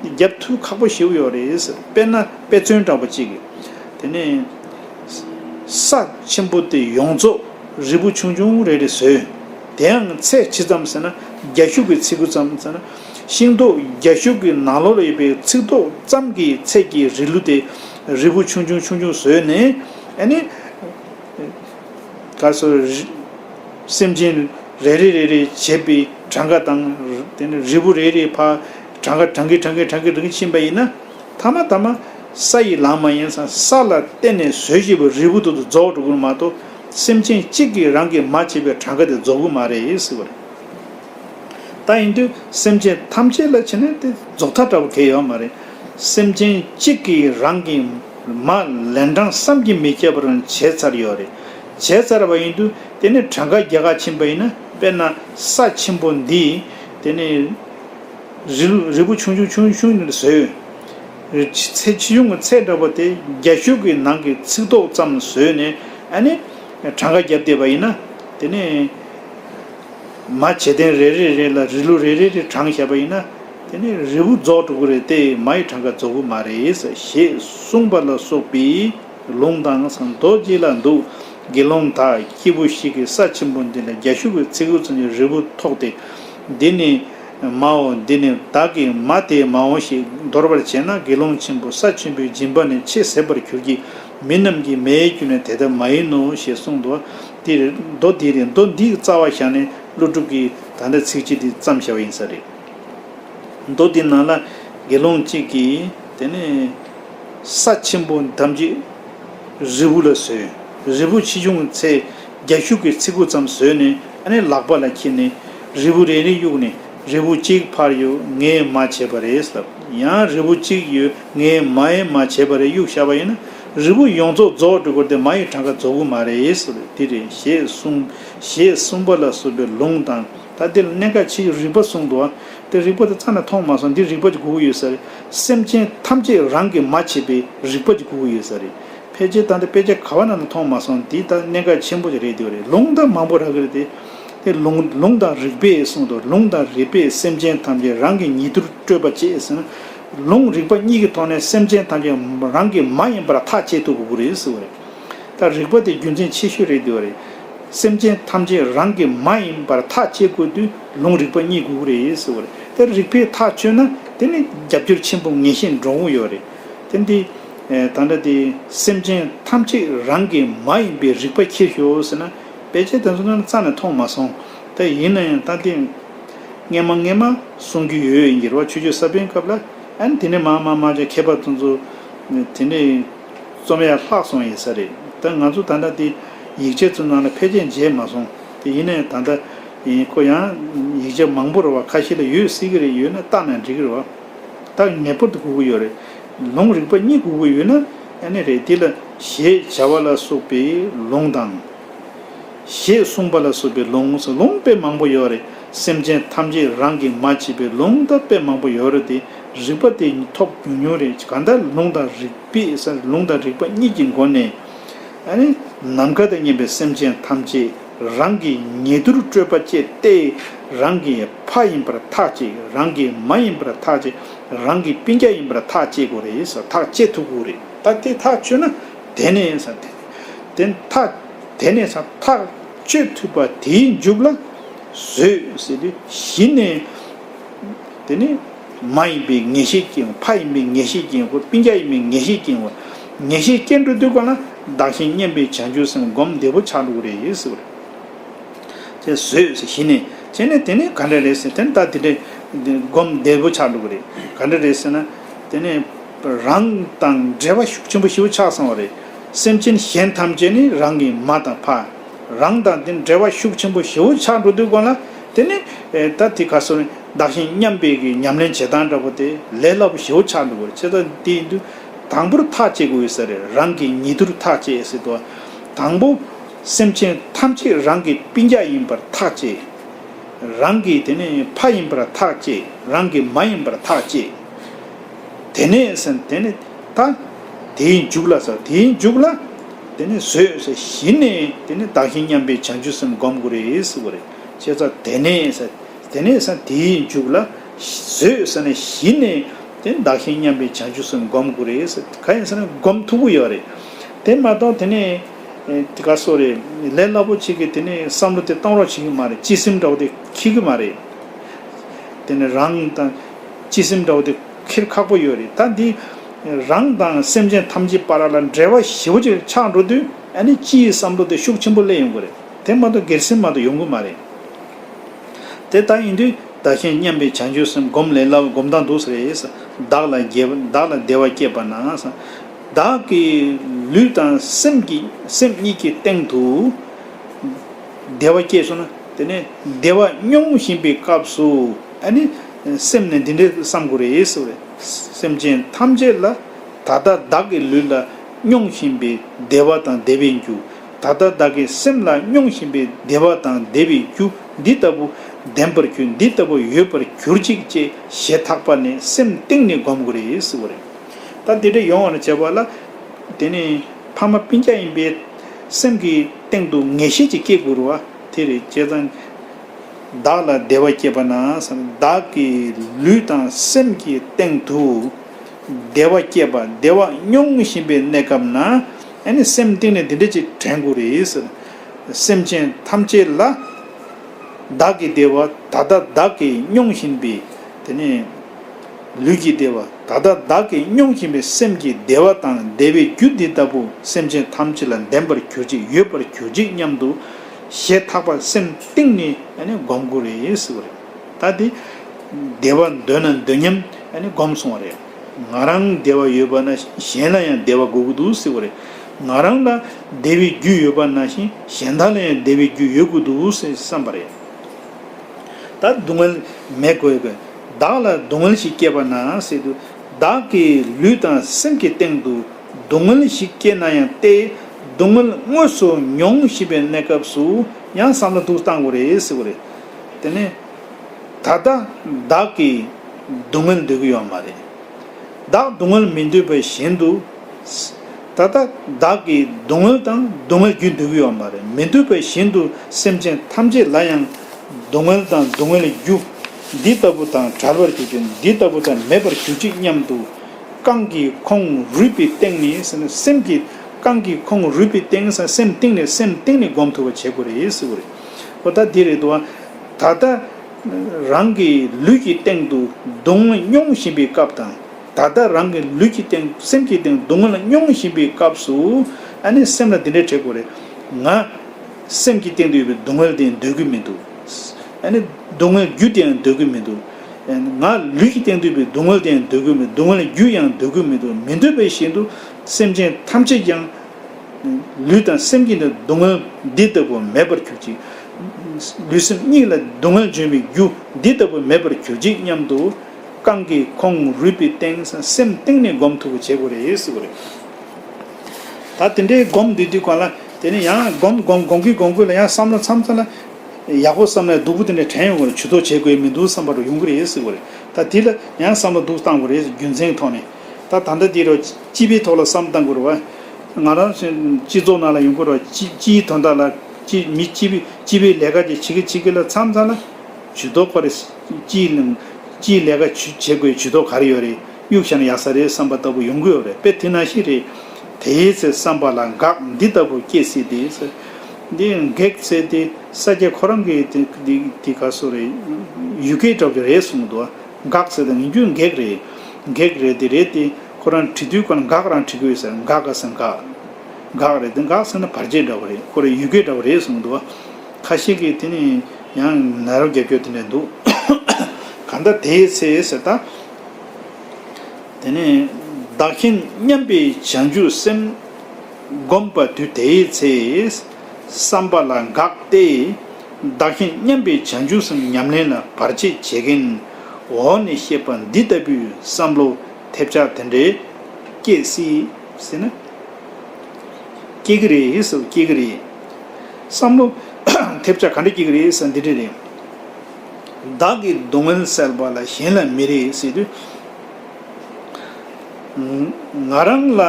རྒྱབ་མཐུད་ཁག་པོ་ཞིག་ཡོད་རེད་ཟེར་དཔེར་ན་དཔེ་མཚོན་འདྲ་པོ་གཅིག་གིས། དེ་ནས། ས་ཆེན་པོ་དེ་ཡོངས་རྫོགས་རིལ་བུ་ཆུང་ཆུང་རེ་རེ་བཟོས། དེའང་ཚད་ཇི་ཙམ་ཟེར་ན་རྒྱ་ཤུག་གི་ཚིགས་གུ་ཙམ་ཟེར་ན། ཤིང་ཏོག་རྒྱ་ཤུག་གི་ནང་ལོགས་ལ་ཡོད་པའི་ཚིགས་ཏོག་ཙམ་གྱི་ཚད་ཀྱི་རིལ་བུ་དེ་རིལ་བུ་ཆུང་ཆུང་ཆུང་ཆུང་བཟོས་ནས། སྐབས་སུ། སེམས་ཅན་རེ་རེ་རེ་རེ་བྱེད་པའི་གྲངས་ཀ་དང། དེ་ནས་རིལ་བུ་རེ་རེའི་བར་གྲངས་ཀ་གྲངས་ཀའི་གྲངས་ཀའི་གྲངས་ཀའི་རིང་ཕྱིན་པ་ཡིན་ན། ཐ་མ་ཐ་མ་ས་ཡི་ལམ་མ་ཡིན་ས་ས་ལ་བརྟེན་ནས་ཟོས་བྱས་པའི་རིལ་བུ་དེ་ཚོ་རྫོགས་འགྲོ་དགོས་མ་གཏོགས་སེམས་ཅན་གཅིག་གིས་རང་གིས་མ་བྱས་པའི་གྲངས་ཀ་དེ་རྫོགས་གི་མ་རེད་ཟེར་བ་རེད། ད་ཡིན་དུས་སེམས་ཅན་ཐམས་ཅད་ལ་བྱས་ན་དེ་རྫོགས་མཐའ་དྲགས་པ་གལ་ཡོད་མ་རེད། སེམས་ཅན་གཅིག་གིས་རང་གིས། མ། ལན་གྲངས་བསམ་གྱིས་མི་ཁྱབ་པར་བྱས་ཚར་ཡོད་རེད། བྱས་ཚར་བ་ཡིན་དུས་དེ་ནི་གྲངས་ཀ་བརྒྱ་ཁ་ཕྱིན་པ་ཡིན་ན་དཔེར་ན། ས་ཆེན་པོ་འདིས། དེ་ནི། རི་ལུ་རི་བོ་ཆུང་ཆུང་ཆུང་ཆུང་ཞིག་ལ་བཟོས་ཡོད། ཚད་ཆེ་ཆུང་གི་ཚད་འདྲ་པོ་དེ་རྒྱ་ཤུག་གི་ནང་གི་ཚིག་ཏོག་ཙམ་བཟོས་ནས་ཨ་ནི། གྲངས་ཀ་བརྒྱབ་བསྡད་པ་ཡིན་ན། དེ་ནི། མ། བྱེ་ལྡན་རེ་རེ་རེ་ལ་རི་ལུ་རེ་རེ་རེ་གྲངས་བྱས་པ་ཡིན་ན། དེ་ནི་རི་བོ་རྫོགས་གྲུབ་ཀྱི་རེད་དེ་མ་ཡི་གྲངས་ཀ་རྫོགས་ཀྱི་མ་རེད། ཞེས་གསུངས་པ་ལ་སོགས་པའི་ལུང་དང་ཟངས་མདོག་སྐྱིད་ལ་འདུག་དགེ་སློང་དག་སྐྱེས་བུ་ཞིག་གིས་ས་ཆེན་པོ་འདི་ལ་རྒྱ་ཤུག་གི་ཚིགས་ཚོན་གྱི་རི་བོ་ཐོགས་ཏེ། འདི་ནི་མའོ་འདི་ནི་བདག་གི་མ་དེའི་མའོ་ཞེས་འདོར་བར་བྱས་ན་དགེ་སློང་ཆེན་པོ་ས་ཆེན་པོའི་སྦྱིན་པ་ནི་ཆེས་ཟད་པར་གྱུར་གྱི་མི་རྣམས་ཀྱི་མའི་རྒྱུ་ནི་དེ་ལྟར་མ་ཡིན་ནོ་ཞེས་གསུངས། མདོ་འདི་རེད། མདོ་འདིའི་རྩ་བ་བཞག་ནས་ཀླུ་སྒྲུབ་ཀྱིས་ད་ལྟ་ཚིགས་བཅད་འདི་བརྩམས་བཞག་པ་ཡིན་ས་རེད། མདོ་དེའི་ནང་ལ་དགེ་སློང་གཅིག་གིས་དེ་ནས། ས་ཆེན་པོ་ཐམས་ཅད་རིལ་བུ་ལ་བཟོས། རིལ་བུ་ཕྱིས་ཕྱུང་ཚེ་རྒྱ་ཤུག་གི་ཚིགས་གུ་ཙམ་ཟོས་ནས་དེ་ནས་ལག་པ་ལ་འཁྱེར་ནས་རིལ་བུ་རེ་རེ་གཡུགས་ནས་རིལ་བུ་གཅིག་ཕར་ཡོ་ངས་མ་བྱས་པ་རེད་ཟེར། ཡང་རིལ་བུ་གཅིག་ཡོ་ངས་མ་ཡེ་མ་བྱས་པ་རེད་གཡུགས་ཤར་བ་ཡིན་ན། རིལ་བུ་ཡོངས་རྫོགས་རྫོགས་དྲུག་གོ་དེ་མ་ཡི་གྲངས་ཀ་རྫོགས་གི་མ་རེད་ཟེར་དེ་རེད་ཞེས་གསུངས། ཞེས་གསུངས་པ་ལ་སོགས་པའི་ལུང་དང། ད་འདིར་གནད་འགག་ཆེ་ཡོད་རིག་པ་གསུངས་འདུག་དེ་རིག་པ་དེ་རྩ་ནས་མཐོང་མ་སོང་འདིར་རིག་པ་གྱི་སྒོ་དགུ་ཡོད་ཟེར། སེམས་ཅན་ཐམས་ཅད་རང་གིས་མ་བྱས་པའི་རིག་པ་གྱི་སྒོ་དགུ་ཡོད་ཟེར། ཕལ་ཆེར་ད་འདི་དཔེ་ཆ་ག་བ་ན་ན་མཐོང་མ་སོང་འདི་ད་གནད་འགག་ཆེན་པོ་ཞིག་རེད་འདོད་རེད་ལུང་དང་མང་པོ་རག་གི་རེད་དེ། དེ་ལུང་ལུང་དང་རིག་པས་གསུངས་འདུག་ལུང་དང་རིག་པས་སེམས་ཅན་ཐམས་ཅད་རང་གི་ཉིད་དུར་སྤྲོས་པ་བཅས་ཟིན། ལུང་རིག་པ་གཉིས་ཀྱི་ཐོག་ནས་སེམས་ཅན་ཐམས་ཅད་རང་གི་མ་ཡིན་པར་ཐག་བཅད་ཐུབ་དགོས་རེད་ཟེར་བ་རེད། ད་རིག་པ་དེ་རྒྱུ་མཚན་ཆེ་ཤོས་རེད་འདོད་པ་རེད། སེམས་ཅན་ཐམས་ཅད་རང་གི་མ་ཡིན་པར་ཐག་བཅད་དགོས་དུས་ལུང་རིག་པ་རྙེད་དགོས་ཀྱི་རེད་ཟེར་བ་རེད། ད་རིག་པས་ཐག་གཅོད་ན་དེ་ནི་རྒྱབ་སྐྱོར་ཆེན་པོ་ངེས་ཤེས་འགྲོ་འོང་ཡོད་རེད། དེ་འདི། ད་འདྲ་དེ་སེམས་ཅན་ཐམས་ཅད་རང་གི་མ་ཡིན་པའི་རིག་པ་འཁྱེར་ཞོག་ཟེར་ན་བེད་སྤྱད་དེ་ཚོ་ང་རྩ་ནས་མཐོང་མ་སོང། ད་ཡིན་ན་ཡང་ད་དེ། ངན་མ་ངན་མ་གསུང་རྒྱུ་ཡོད་འགྱེལ་བ་ཆོས་རྒྱུད་ས་པན་སྐབས་ལ་ཨན་དེ་ནས་མ་མ་མ་ཅག་མཁས་པ་ཚོ་ཚོ། དེ་ནས། རྩོམ་ཡག་ལྷག་སོང་ཡིན་ས་རེད་ད་ང་ཚོ་ད་ལྟ་དེ་ཡིག་ཆ་ཚུར་ནང་ལ་ཕལ་ཆེར་མཇལ་མ་སོང་དེ་ཡིན་ནའི་ད་ལྟ་ཡིན་ཁོ་ཡང་ཡིག་ཆ་མང་པོ་ར་བ་ཁ་ཤས་ལ་ཡོད་སྲིད་གི་རེད་ཡོད་ན་བཏགས་ན་འགྲིག་གི་རེད་བ་ད་ངེས་པར་དུ་སྒུག་གི་ཡོད་རེད་ལུང་རིག་པ་གཉིས་སྒུག་གི་ཡོད་ན་ཨེ་ནི་རེད་དེ་ལ་ཞེས་བྱ་བ་ལ་སོགས་པའི་ལུང་དང། ཞེས་གསུངས་པ་ལ་སོགས་པའི་ལུང་སོགས་ལུང་དཔེ་མང་པོ་ཡོད་རེད་སེམས་ཅན་ཐམས་ཅད་རང་གིས་མ་བྱས་པའི་ལུང་དང་དཔེ་མང་པོ་ཡོད་རེད་དེ། རིག་པ་དེ་ཉིད་ཐོག་ཉུང་ཉུང་རེ་གང་ལྟར་ལུང་དང་རིག་པས་སར་ལུང་དང་རིག་པ་གཉིས་ཀྱི་སྒོ་ནས། ནམ་མཁའ་དང་མཉམ་པའི་སེམས་ཅན་ཐམས་ཅད་རང་གི་ཉེ་དུར་སྤྲོས་པ་ཅད་སྟེ། རང་གི་ཕ་ཡིན་པར་ཐག་བཅད་རང་གི་མ་ཡིན་པར་ཐག་བཅད་རང་གི་སྤུན་རྒྱ་ཡིན་པར་ཐག་བཅད་དགོས་རེ་ཐག་བཅད་ཐུབ་དགོས་རེ་ད་དེ་ཐག་ཆོད་ན་དེ་ནས་དེ་ཐག་དེ་ནས་ཐག་གཅོད་ཐུབ་པ་དེའི་མཇུག་ལ་བཟོད་ཟེར་དུས་གཞི་ནས། དེ་ནི། མ་ཡིན་པའི་ངེས་ཤེས་སྐྱེ་བ། ཕ་ཡིན་པའི་ངེས་ཤེས་སྐྱེ་བ། པིང་རྒྱ་ཡིན་པའི་ངེས་ཤེས་སྐྱེ་བ། ངེས་ཤེས་སྐྱེ་འགྲོ་དུས་གང་ན་བདག་གཞན་བསྙེན་པའི་བྱང་ཆུབ་སེམས་སྒོམ་བདེ་པོ་ཆགས་འགྲོ་གི་རེད་ཟེར་བ་རེད། ཅེས་ཟོས་ཟེར་གཞི་ནས་བྱས་ནས་དེ་ནི་ག་འདྲ་རེད་ཟེར་དེ་ནི་ད་དེ་འདྲའི་སྒོམ་བདེ་པོ་ཆགས་འགྲོ་གི་རེད། ག་འདྲ་རེད་ཟེར་ན། དེ་ནི། རང་དང་འབྲེལ་བ་ཤུགས་ཆེན་པོ་ཞིག་ཆགས་སོང་བ་རེད། སེམས་ཅན་གཞན་ཐམས་ཅད་ནི་རང་གི་མ་དང་ཕ། རང་དང་དེ་འདྲ་བ་ཤུགས་ཆེན་པོ་ཞིག་ཆགས་འགྲོ་དུས་གང་ན། དེ་ནི་ད་དེ་ག་སོང་བདག་གཞན་མཉམ་སྤེལ་གྱི་ཉམས་ལེན་བྱེད་སྟངས་འདྲ་པོ་དེ་ལས་སླ་པོ་ཞེ་བོ་ཆགས་འདུག་བར་ཆད་ད་དེ་ཡིན་དུས་དང་པོར་ཐག་བཅད་དགོས་ཡོད་ས་རེད་རང་གིས་ཉེ་དུར་ཐག་བཅད་ཡོད་སྲིད་དོ། དང་པོ། སེམས་ཅན་ཐམས་ཅད་རང་གི་པིན་རྒྱ་ཡིན་པར་ཐག་བཅད། རང་གི་དེ་ནི་ཕ་ཡིན་པར་ཐག་བཅད་རང་གི་མ་ཡིན་པར་ཐག་བཅད། དེ་ནས་སན་དེ་ནི་ད་དེའི་མཇུག་ལ་ཟེར་དེའི་མཇུག་ལ། དེ་ནི་བཟོད་གཞི་ནས་དེ་ནི་བདག་གཞན་མཉམ་སྤེལ་བྱང་ཆུབ་སེམས་སྒོམ་དགོས་རེད་ཟེར་བ་རེད། ཅེས་སོ། དེ་ནས་དེ་ནས་ས་དེའི་མཇུག་ལ། བཟོད་ས་ནས་ཞི་ནས་དེ་བདག་གཞན་མཉམ་པའི་བྱང་ཆུབ་སེམས་བསྒོམ་དགུ་རེ། ག་ཡིན་ཟེར་ན་སྒོམ་མཐུག་པོ་ཡོད་རེད། དེ་མ་གཏོགས་དེ་ནས་དེ་ག་སོ་རེད། ལས་སླ་པོ་བྱེད་དགོས་དེ་ནས་བསམ་བློ་དེ་གཏོང་རོགས་བྱེད་ཀྱི་མ་རེད་སྤྱི་སེམས་འདྲ་བོ་དེ་འཁྱེར་གི་མ་རེད། དེ་ནས་རང་དང། སྤྱི་སེམས་འདྲ་བོ་དེ་འཁྱེར་ཁག་པོ་ཡོད་རེད་ད་འདི། རང་དང་སེམས་ཅན་ཐམས་ཅད་པ་ར་ལ་འབྲེལ་བ་ཞེ་བོ་ཅིག་ཆགས་འགྲོ་དུས་ཨ་ནི་སྤྱིའི་བསམ་བློ་དེ་ཤུགས་ཆེན་པོ་སླེབས་ཡོང་གི་རེད། དེ་མ་གཏོགས་སྒེར་སེམས་མ་གཏོགས་ཡོང་གི་མ་རེད། དེ་ལྟ་ཡིན་དུས་བདག་གཞན་མཉམ་པའི་བྱང་ཆུབ་སེམས་སྒོམ་ལས་སླ་བའི་སྒོམ་སྟངས་འདུག་ས་རེད། བདག་ལ་དགེ་བདག་ལ་བདེ་བ་སྐྱེད་པ་ན། བདག་གི་ལུས་དང་སེམས་ཀྱི་སེམས་གཉིས་ཀྱི་སྟེང་དུ། བདེ་བ་སྐྱེས་སོང་ན་དེ་ནས་བདེ་བ་སྙོམས་བཞིན་པའི་སྐབས་སུ་ཨ་ནི། སེམས་ནི་འདི་འདྲའི་བསམ་དགོས་རེད་ཟེར་བས། སེམས་ཅན་ཐམས་ཅད་ལ་ད་ལྟ་བདག་གི་ལུས་ལ་སྙོམས་བཞིན་པའི་བདེ་བ་དང་བདེ་བའི་རྒྱུ། ད་ལྟ་བདག་གི་སེམས་ལ་སྙོང་བཞིན་པའི་བདེ་བ་དང་བདེ་བའི་རྒྱུ་འདི་ལྟ་བུ་ལྡན་པར་ཁྱོད་འདི་ལྟ་བུ་ཡོད་པར་གྱུར་ཅིག་ཅེས་ཞེ་ཐག་པ་ནས་སེམས་གཏིང་ནས་བསྒོམ་དགོས་རེད་ཟེར་བ་རེད། ད་དེ་འདྲ་ཡོང་བར་བྱས་པ་ལ། དེ་ནས་ཕ་མ་སྤུན་སྐྱ་ཡིན་པས། སེམས་ཀྱི་སྟེང་དུ་ངེས་ཤེས་ཅིག་སྐྱེ་དགོས་རུང་བ་དེ་རེད་བྱས་ཙང། བདག་ལ་བདེ་བ་སྐྱེས་པ་ན་བདག་གི་ལུས་དང་སེམས་ཀྱི་སྟེང་དུ། བདེ་བ་སྐྱེས་པ་བདེ་བ་སྙོམས་བཞིན་པའི་གནས་སྐབས་ན་ནི་སེམས་གཏིང་ནས་འདི་འདྲ་ཅིག་དྲན་དགོས་རེད། སེམས་ཅན་ཐམས་ཅད་ལ་བདག་གི་བདེ་བ་ད་ལྟ་བདག་གིས་སྙོམས་བཞིན་པའི་དེ་ནས་ལུས་ཀྱི་བདེ་བ་ད་ལྟ་བདག་གིས་སྙོམས་བཞིན་པའི་སེམས་ཀྱི་བདེ་བ་དང་བདེ་བའི་རྒྱུ་འདི་ལྟ་བུ་སེམས་ཅན་ཐམས་ཅད་ལ་ལྡན་པར་གྱུར་ཅིག་ཡོད་པར་གྱུར་ཅིག་སྙམ་དུ་ཞེ་ཐག་པར་སེམས་གཏིང་ནས་བསྒོམ་དགོས་རེད། ད་དེ། བདེ་བ་འདོད་ན་འདོད་སྙམ་ནས་བསྒོམས་སོང་བ་རེད། ང་རང་བདེ་བ་ཡོད་པ་ན་གཞན་ལ་ཡང་བདེ་བ་དགོས་ཀྱི་འདུག་ཟེར་བ་རེད། ང་རང་ལ་བདེ་བའི་རྒྱུ་ཡོད་པ་ན་བཞིན་གཞན་དག་ལ་ཡང་བདེ་བའི་རྒྱུ་ཡོད་དགོས་འདུག་ཟེར་བསམ་པ་རེད། ད་སྡུག་བསྔལ་མེད་དགོས་པས་བདག་ལ་སྡུག་བསྔལ་ཞིག་སྐྱེས་པ་ན་སྲིད་དུ། བདག་གི་ལུས་དང་སེམས་ཀྱི་སྟེང་དུ་སྡུག་བསྔལ་ཞིག་སྐྱེས་ན་ཡང་སྟེ། སྡུག་བསྔལ་དངོས་སུ་མྱོང་བཞིན་པའི་གནས་སྐབས་སུ་ཡང་བསམ་བློ་ཐུགས་སུ་གཏང་དགོས་རེད་ཟེར་བ་རེད། དེ་ནས། ད་ལྟ་བདག་གིས་སྡུག་བསྔལ་འདོད་ཀྱི་ཡོད་མ་རེད། བདག་སྡུག་བསྔལ་མི་འདོད་པའི་བཞིན་དུ། ད་ལྟ་བདག་གིས་སྡུག་བསྔལ་དང་སྡུག་བསྔལ་རྒྱུ་འདོད་ཀྱི་ཡོད་མ་རེད་མི་འདོད་པའི་བཞིན་དུ་སེམས་ཅན་ཐམས་ཅད་ལ་ཡང་སྡུག་བསྔལ་དང་སྡུག་བསྔལ་རྒྱུ་འདི་ལྟ་བུ་དང་བྲལ་བར་གྱུར་ཅིག་འདི་ལྟ་བུ་དང་མེད་པར་གྱུར་ཅིག་སྙམ་དུ། རྐང་གི་ཁོང་རུས་པའི་སྟེང་ནས་སེམས་ཀྱི། རྐང་གི་ཁོང་རུས་པའི་སྟེང་སེམས་སྟེང་ནས་སེམས་སྟེང་ནས་སྒོམ་ཐུབ་པ་བྱེད་དགོས་རེད། པོ་ད་དེ་རེད་འདུག་ད་ལྟ། རང་གི་ལུས་ཀྱི་སྟེང་དུ་སྡུག་བསྔལ་མྱོང་བཞིན་པའི་སྐབས་དང། ད་ལྟ་རང་གི་ལུས་ཀྱི་སྟེང་སེམས་ཀྱི་སྟེང་སྡུག་བསྔལ་མྱོང་བཞིན་པའི་སྐབས་སུ། ཨ་ནི་སེམས་ལ་འདི་འདྲའི་དྲེགས་པོ་རེད། ང། སེམས་ཀྱི་སྟེང་དུ་ཡོད་པའི་སྡུག་བསྔལ་དེ་འདོད་ཀྱི་མི་འདུག། ཨ་ནི། སྡུག་བསྔལ་རྒྱུ་དེ་ཡང་འདོད་ཀྱི་མི་འདུག། ང། ལུས་ཀྱི་སྟེང་དུ་ཡོད་པའི་སྡུག་བསྔལ་དེ་ཡང་འདོད་ཀྱི་མི་འདུག་སྡུག་བསྔལ་རྒྱུ་ཡང་འདོད་ཀྱི་མི་འདུག་མི་འདོད་པས་བཞིན་དུ་སེམས་ཅན་ཐམས་ཅད་ཀྱང། ལུས་དང་སེམས་ཀྱི་ནི་སྡུག་བསྔལ་འདི་ལྟ་བུ་མེད་པར་གྱུར་ཅིག། ལུས་སེམས་གཉིས་ལ་སྡུག་བསྔལ་འབྱུང་བའི་རྒྱུ་འདི་ལྟ་བུ་མེད་པར་གྱུར་ཅིག་སྙམ་དུ། རྐང་གི་ཁོང་རུས་པའི་སྟེང་སེམས་གཏིང་ནས་སྒོམ་ཐུབ་པོ་བྱེད་དགོས་རེད། ད་དེ་འདྲའི་སྒོམ་བསྡུས་དུས་གང་ལ་དེ་ནས་ཡང་སྒོམ་སྒོམ་སྒོམ་གི་སྒོམ་དགོས་ལ་ཡང་བསམ་ལ་འཚམ་ཚ་ལ། ཡག་པོ་བསམ་ན་སྡུག་པོ་དེ་འདྲ་དྲན་ཡོང་གི་རེད་བྱུས་གཏོགས་བྱེད་དགོས་མི་འདུག་བསམ་པ་རུ་ཡོང་གི་རེད། ད་དེ་ལ་ཡང་བསམ་བློ་སྡུག་བཏང་དགོས་རེད་རྒྱུ་མཚན་ཐོག་ནས། ད་ད་ལྟ་འདི་རུ་སྤྱི་པའི་ཐོག་ལ་བསམ་བཏང་དགོས་རུང་བ། ང་རང་སྤྱི་ཚོགས་ནང་ལ་ཡོང་དགོས་རུང་བ་སྤྱི་སྤྱིའི་དོན་དག་ལ་སྤྱི་མི་སྤྱི་པའི་སྤྱི་པའི་ལས་ཀ་དེ་བྱེད་ཀི་བྱེད་ཀི་ལ་མཚམས་མཚམས་ལ་ཇུས་གཏོགས་ཁོ་རེ་སྤྱིའི་སྤྱིའི་ལས་ཀ་བྱེད་བྱེད་དགོས་ཇུས་གཏོགས་ག་རེ་ཡོད་རེད་གཡུག་བཞག་ན་ཡག་ས་རེད་བསམ་པ་ལྟ་བུ་ཡོང་གི་ཡོད་རེད་དཔེ་དེ་ན་ཞིག་རེད། དེའི་ཚེ་བསམ་པ་ལ་འགག་འདི་ལྟ་བུ་སྐྱེས་སྲིད་དེ། འདི་འགེགས་ཚེ་དེ་ས་སྐྱ་ཁོ་རང་གི་དེ་དེ་ག་སུ་རེད་ཡུལ་སྐད་གྲགས་རྒྱུ་རེད་གསུངས་འདུག་བ། འགག་ཟེར་དང་ཡིན་རྒྱུ་འགེགས་རེད། འགེགས་རེད་དེ་རེད་དེ། ཁོ་རང་བྲིས་དུས་ཀར་འགག་རང་བྲིས་གི་ཡོད་ཟེར་འགག་ག་ཟེར་འགག། འགག་རེད་དེ་འགག་ཟེར་ན་བར་ཆད་འདྲ་བོ་རེད་ཁོ་རང་ཡུལ་སྐད་འདྲ་བོ་རེད་གསུངས་འདུག་བ། ཁ་ཤས་ཀྱིས་དེ་ནི་ཡང་ན་རོ་རྒྱབ་སྐྱོར་དེ་འདྲ་འདུག། གང་ལྟར་དེའི་ཚེ་ཟེར་ད། དེ་ནས་བདག་གཞན་མཉམ་པའི་བྱང་ཆུབ་སེམས། བསྒོམས་པ་དུས་དེའི་ཚེ། བསམ་པ་ལ་འགག་སྟེ། བདག་གཞན་མཉམ་པའི་བྱང་ཆུབ་སེམས་ཉམས་ལེན་ལ་བར་ཆད་བྱེད་མཁན། འོག་ནས་བཤད་པ་འདི་ལྟ་བུའི་བསམ་བློ་ཐེབས་ཆག་དེ་འདྲའི་སྐྱེད་སྲིད། སྲིད་ན། སྐྱེ་གི་རེད་ཧེ་སོ་སྐྱེ་གི་རེད། བསམ་བློ་ཐེབས་ཆག་ག་འདྲ་སྐྱེ་གི་རེད་ས་འདི་འདྲ་རེད། བདག་གི་སྡུག་བསྔལ་བསལ་བ་ལ་གཞན་ལ་མི་རེ་སྲིད་དུས། ང་རང་ལ་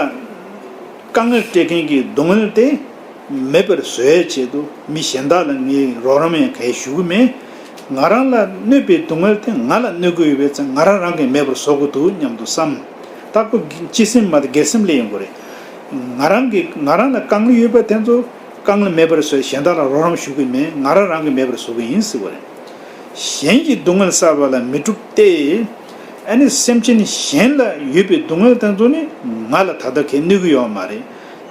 དཀའ་ངལ་སྤྲད་མཁན་གྱི་སྡུག་བསྔལ་དེ། མེད་པར་བཟོའི་ཆེད་དུ་མི་གཞན་དག་ལ་ངས་རོགས་རམ་ཡང་གལ་ཞུ་གི་མེད། ང་རང་ལ་གནོད་པའི་སྡུག་བསྔལ་དེ་ང་ལ་གནོད་དགོས་ཡོད་པས་ཚེ་ང་རང་རང་གིས་མེད་པར་བཟོ་དགོས་འདུག་སྙམ་དུ་བསམ། རྟག་པར་སྤྱི་སེམས་མ་དགེ་སེམས་ལས་ཡོང་གི་རེད། ང་རང་གིས་ང་རང་ལ་དཀའ་ངལ་ཡོད་པ་དེ་ཚོ་དཀའ་ངལ་མེད་པར་བཟོས་གཞན་དག་ལ་རོགས་རམ་ཞུ་གི་མེད་ང་རང་རང་གིས་མེད་པར་བཟོ་གི་ཡིན་ཟེར་བ་རེད། གཞན་གྱི་སྡུག་བསྔལ་བསལ་བ་ལ་མི་སྒྲུབ་སྟེ། ཨ་ནི་སེམས་ཅན་གཞན་ལ་ཡོད་པའི་སྡུག་བསྔལ་དེ་ཚོ་ནི་ང་ལ་ད་ལྟ་གལ་གནོད་ཀྱི་ཡོད་མ་རེད།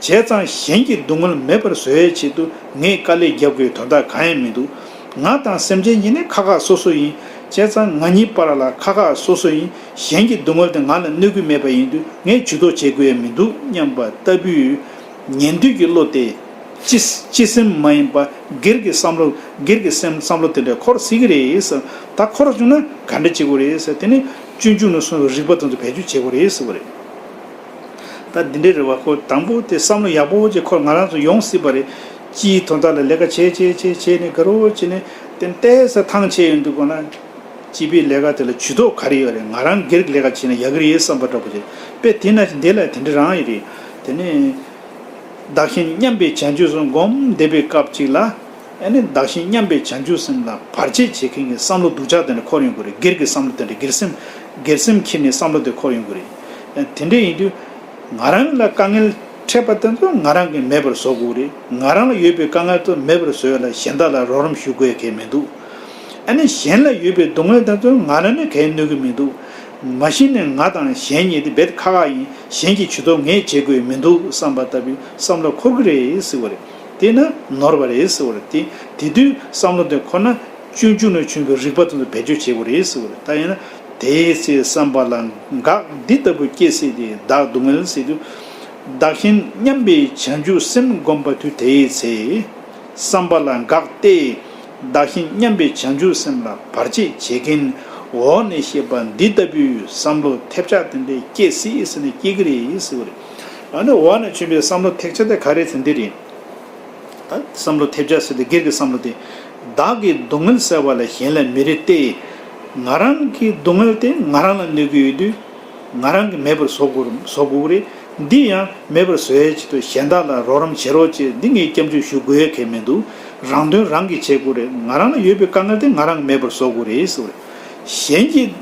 བྱས་ཙང་གཞན་གྱི་སྡུག་བསྔལ་མེད་པར་བཟོ་བའི་ཆེད་དུ་ངས་དཀའ་ལས་རྒྱབ་དགོས་དོན་དག་གང་ཡང་མི་འདུག་ང་དང་སེམས་ཅན་གཉིས་ནི་ཁ་ཁ་སོ་སོ་ཡིན། བྱས་ཙང་ང་གཉིས་བར་ལ་ཁ་ཁ་སོ་སོ་ཡིན་གཞན་གྱི་སྡུག་བསྔལ་དེ་ང་ལ་གནོད་སྐུལ་མེད་པ་ཡིན་དུས་ངས་ཇུས་གཏོགས་བྱེད་དགོས་ཡ་མི་འདུག་སྙམ་པ་ལྟ་བུའི། ཉན་ཐོས་ཀྱི་བློ་དེ། སྤྱི། སྤྱི་སེམས་མ་ཡིན་པ། སྒེར་གྱི་བསམ་བློ། སྒེར་གྱི་སེམས་བསམ་བློ་དེ་འདྲ་འཁོར་སྲིད་ཀྱི་རེད། ད་འཁོར་བྱུང་ན་ག་འདྲ་བྱེད་དགོས་རེད། དེ་ནི་སྤྱོད་འཇུག་ནས་གསུངས་པའི་རིགས་པ་དོན་དུ་བེད་སྤྱོད་བྱེད་དགོས་རེད་ཟེར་བ་རེད། ད་འདི་འདྲའི་རེ་བ་ཁོ་དང་པོ་དེ་བསམ་བློ་ཡག་པོ་བོ་ཅེས་ཁོར་ང་རང་ཚོ་ཡོང་སྲིད་པ་རེད། སྤྱིའི་དོ་བདག་ལ་ལས་ཀ་བྱས་བྱས་བྱས་བྱས་ནས་དགའ་རོ་བྱས་ནས་དེ་ལྟའི་ཟ་ཐང་བྱས་ཡོད་འདུག་གོ་ན། སྤྱི་པའི་ལས་ཀ་དེ་ལ་ཇུས་གཏོགས་ག་རེ་ཡོད་རེད་ང་རང་སྒེར་གྱི་ལས་ཀ་བྱས་ན་ཡག་གི་རེད་བསམ་པ་འདྲ་པོ་རེད་དཔེ་དེ་ན་འདི་ལ་དེ་འདྲ་རང་ཡིན་རེད། དེ་ནས། བདག་གཞན་མཉམ་པའི་བྱ་སྤྱོད་སོགས་སྒོམ་བསྡད་པའི་སྐབས་ཅིག་ལ། ཨེ་ནས་བདག་གཞན་མཉམ་པའི་བྱང་ཆུབ་སེམས་ལ་བར་ཆད་བྱེད་མཁན་གྱི་བསམ་བློ་སྡུག་ཅག་དེ་འདྲ་འཁོར་ཡོང་གི་རེད་སྒེར་གྱི་བསམ་བློ་དེ་འདྲ་སྒེར་སེམས། སྒེར་སེམས་ཁྱེར་ནས་བསམ་བློ་དེ་འཁོར་ཡོང་གི་རེད། དེ་འདྲ་ཡིན་དུས། ང་རང་ལ་དཀའ་ངལ་འཕྲད་པ་དེ་ཚོ་ང་རང་གིས་མེད་པར་བཟོ་དགོས་རེད། ང་རང་ལ་ཡོད་པའི་དཀའ་ངལ་ཚོ་མེད་པར་བཟོ་ཡ་ལ་གཞན་དག་ལ་རོགས་རམ་ཞུ་དགོས་གལ་མི་འདུག། ཨེ་ནས་གཞན་ལ་ཡོད་པའི་སྡུག་བསྔལ་དེ་ཚོ་ང་རང་ནས་གས་གནོད་གི་མི་འདུག། མ་གཞི་ནས་ང་དང་གཞན་གཉིས་དེ་བེད་ཁ་ཁ་ཡིན་གཞན་གྱིས་བྱུས་གཏོགས་ངས་བྱེད་དགོས་མི་འདུག་བསམ་པ་ལྟ་བུའི་བསམ་བློ་འཁོར་གི་རེད་ཟེར་བ་རེད། དེས་ན་ནོར་བ་རེད་ཟེར་བ་རེད་དེ། དེ་དུས་བསམ་བློ་དེ་ཁོ་ན་སྤྱོད་འཇུག་ནང་བྱོན་པའི་རིག་པ་དེ་ཚོ་བེད་སྤྱོད་བྱེད་དགོས་རེད་ཟེར་བ་རེད་ད་ཡིན་ན། དེའི་ཚེ་བསམ་པ་ལ་འགག་འདི་ལྟ་བུ་སྐྱེ་སྲིད་དེ་བདག་སྡུག་བསྔལ་སྲིད་དུ། བདག་གཞན་མཉམ་པའི་བྱང་ཆུབ་སེམས་བསྒོམ་པ་དུས་དེའི་ཚེ། བསམ་པ་ལ་འགག་སྟེ། བདག་གཞན་མཉམ་པའི་བྱང་ཆུབ་སེམས་ལ་བར་ཆད་བྱེད་མཁན་འོག་ནས་བཤད་པ་འདི་ལྟ་བུའི་བསམ་བློ་ཐེབས་ཆག་དེ་འདྲས་སྐྱེ་སྲིད་ཟེར་ན་སྐྱེ་གི་རེད་ཟེར་བ་རེད། ཨ་ནི་འོག་ནས་བྱོན་པའི་བསམ་བློ་ཐེག་ཆ་དེ་ག་རེ་ཚེ་འདི་རེད། བསམ་བློ་ཐེབས་ཆ་ཟེར་ཏེ་སྒེར་གྱི་བསམ་བློ་དེ། བདག་གིས་སྡུག་བསྔལ་སེལ་བ་ལས་གཞན་ལས་མི་རེད་དེ། ང་རང་གི་སྡུག་བསྔལ་དེ་ང་རང་ལ་གནོད་ཀྱི་ཡོད་དུས། ང་རང་གིས་མེད་པར་བཟོ་དགོས་རེད། འདི་ཡང་མེད་པར་བཟོ་ཡའི་ཆེད་དུ་གཞན་དག་ལ་རོགས་རམ་བྱེད་རོགས་ཅེས་འདི་ངས་སྐྱབས་འཇུག་ཞུ་དགོས་ཡ་གལ་མི་འདུག་རང་དོན་རང་གིས་བྱེད་དགོས་རེད་ང་རང་ལ་ཡོད་པའི་དཀའ་ངལ་དེ་ང་རང་གིས་མེད་པར་བཟོ་དགོས་རེད། གཞན་གྱི།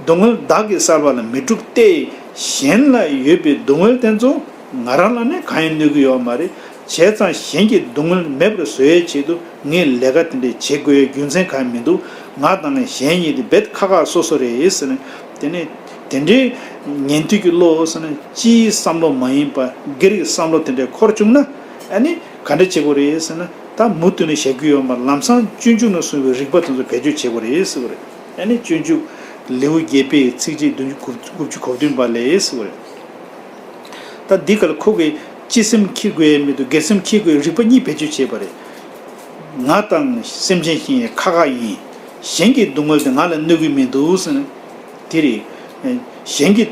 སྡུག་བསྔལ་བདག་གིས་བསལ་བ་ལ་མི་འཁྲུག་སྟེ། གཞན་ལ་ཡོད་པའི་སྡུག་བསྔལ་དེ་ཚོ་ང་རང་ལ་ནི་གང་ཡང་གནོད་ཀྱི་ཡོད་མ་རེད། བྱས་ཙང་གཞན་གྱི་སྡུག་བསྔལ་མེད་པར་བཟོ་བའི་ཆེད་དུ་ངས་ལས་ཀ་དེ་འདྲའི་བྱེད་དགོས་ཡའི་རྒྱུ་མཚན་གང་ཡང་མི་འདུག་ང་དང་གཞན་གཉིས་དེ་བེད་ཁ་ཁ་སོ་སོ་རེད་ཟེར་ནས། དེ་ནས་དེ་འདྲའི་ཉན་ཐོས་ཀྱི་བློ་ཟེར་ན་སྤྱིའི་བསམ་བློ་མ་ཡིན་པར་སྒེར་གྱི་བསམ་བློ་དེ་འདྲས་འཁོར་བཅུག་ན་ཨ་ནི་ག་འདྲ་བྱེད་དགོས་རེད་ཟེར་ན་ད་མུ་མཐུད་ནས་བཞག་རྒྱུ་ཡོད་མ་རེད་ལམ་སང་སྤྱོད་འཇུག་ནས་གསུངས་པའི་རིགས་པ་དེ་ཚོ་བེད་སྤྱོད་བྱེད་དགོས་རེད་ཟེར་བ་རེད། ཡང་ནི་སྤྱོད་འཇུག་ལེའུ་བརྒྱད་པའི་ཚིགས་བཅད་བདུན་ཅུ་དགུ་བཅུ་གོ་བདུན་པ་ལས། ད་འདི་ག་ལ་ཁོ་གེ་ཅི་སེམས་ཁྱི་རྒོད་ཡས་མེད་དུ་སྒེར་སེམས་ཁྱི་རྒོད་རིག་པ་གཉིས་བེད་སྤྱོད་བྱས་པ་རེད། ང་དང་སེམས་ཅན་གྱི་ཁ་ཁ་ཡིན། གཞན་གྱི་སྡུག་བསྔལ་དེ་ང་ལ་གནོད་གི་མི་འདུག་ཟེར་ན་དེ་རེད། གཞན་གྱི་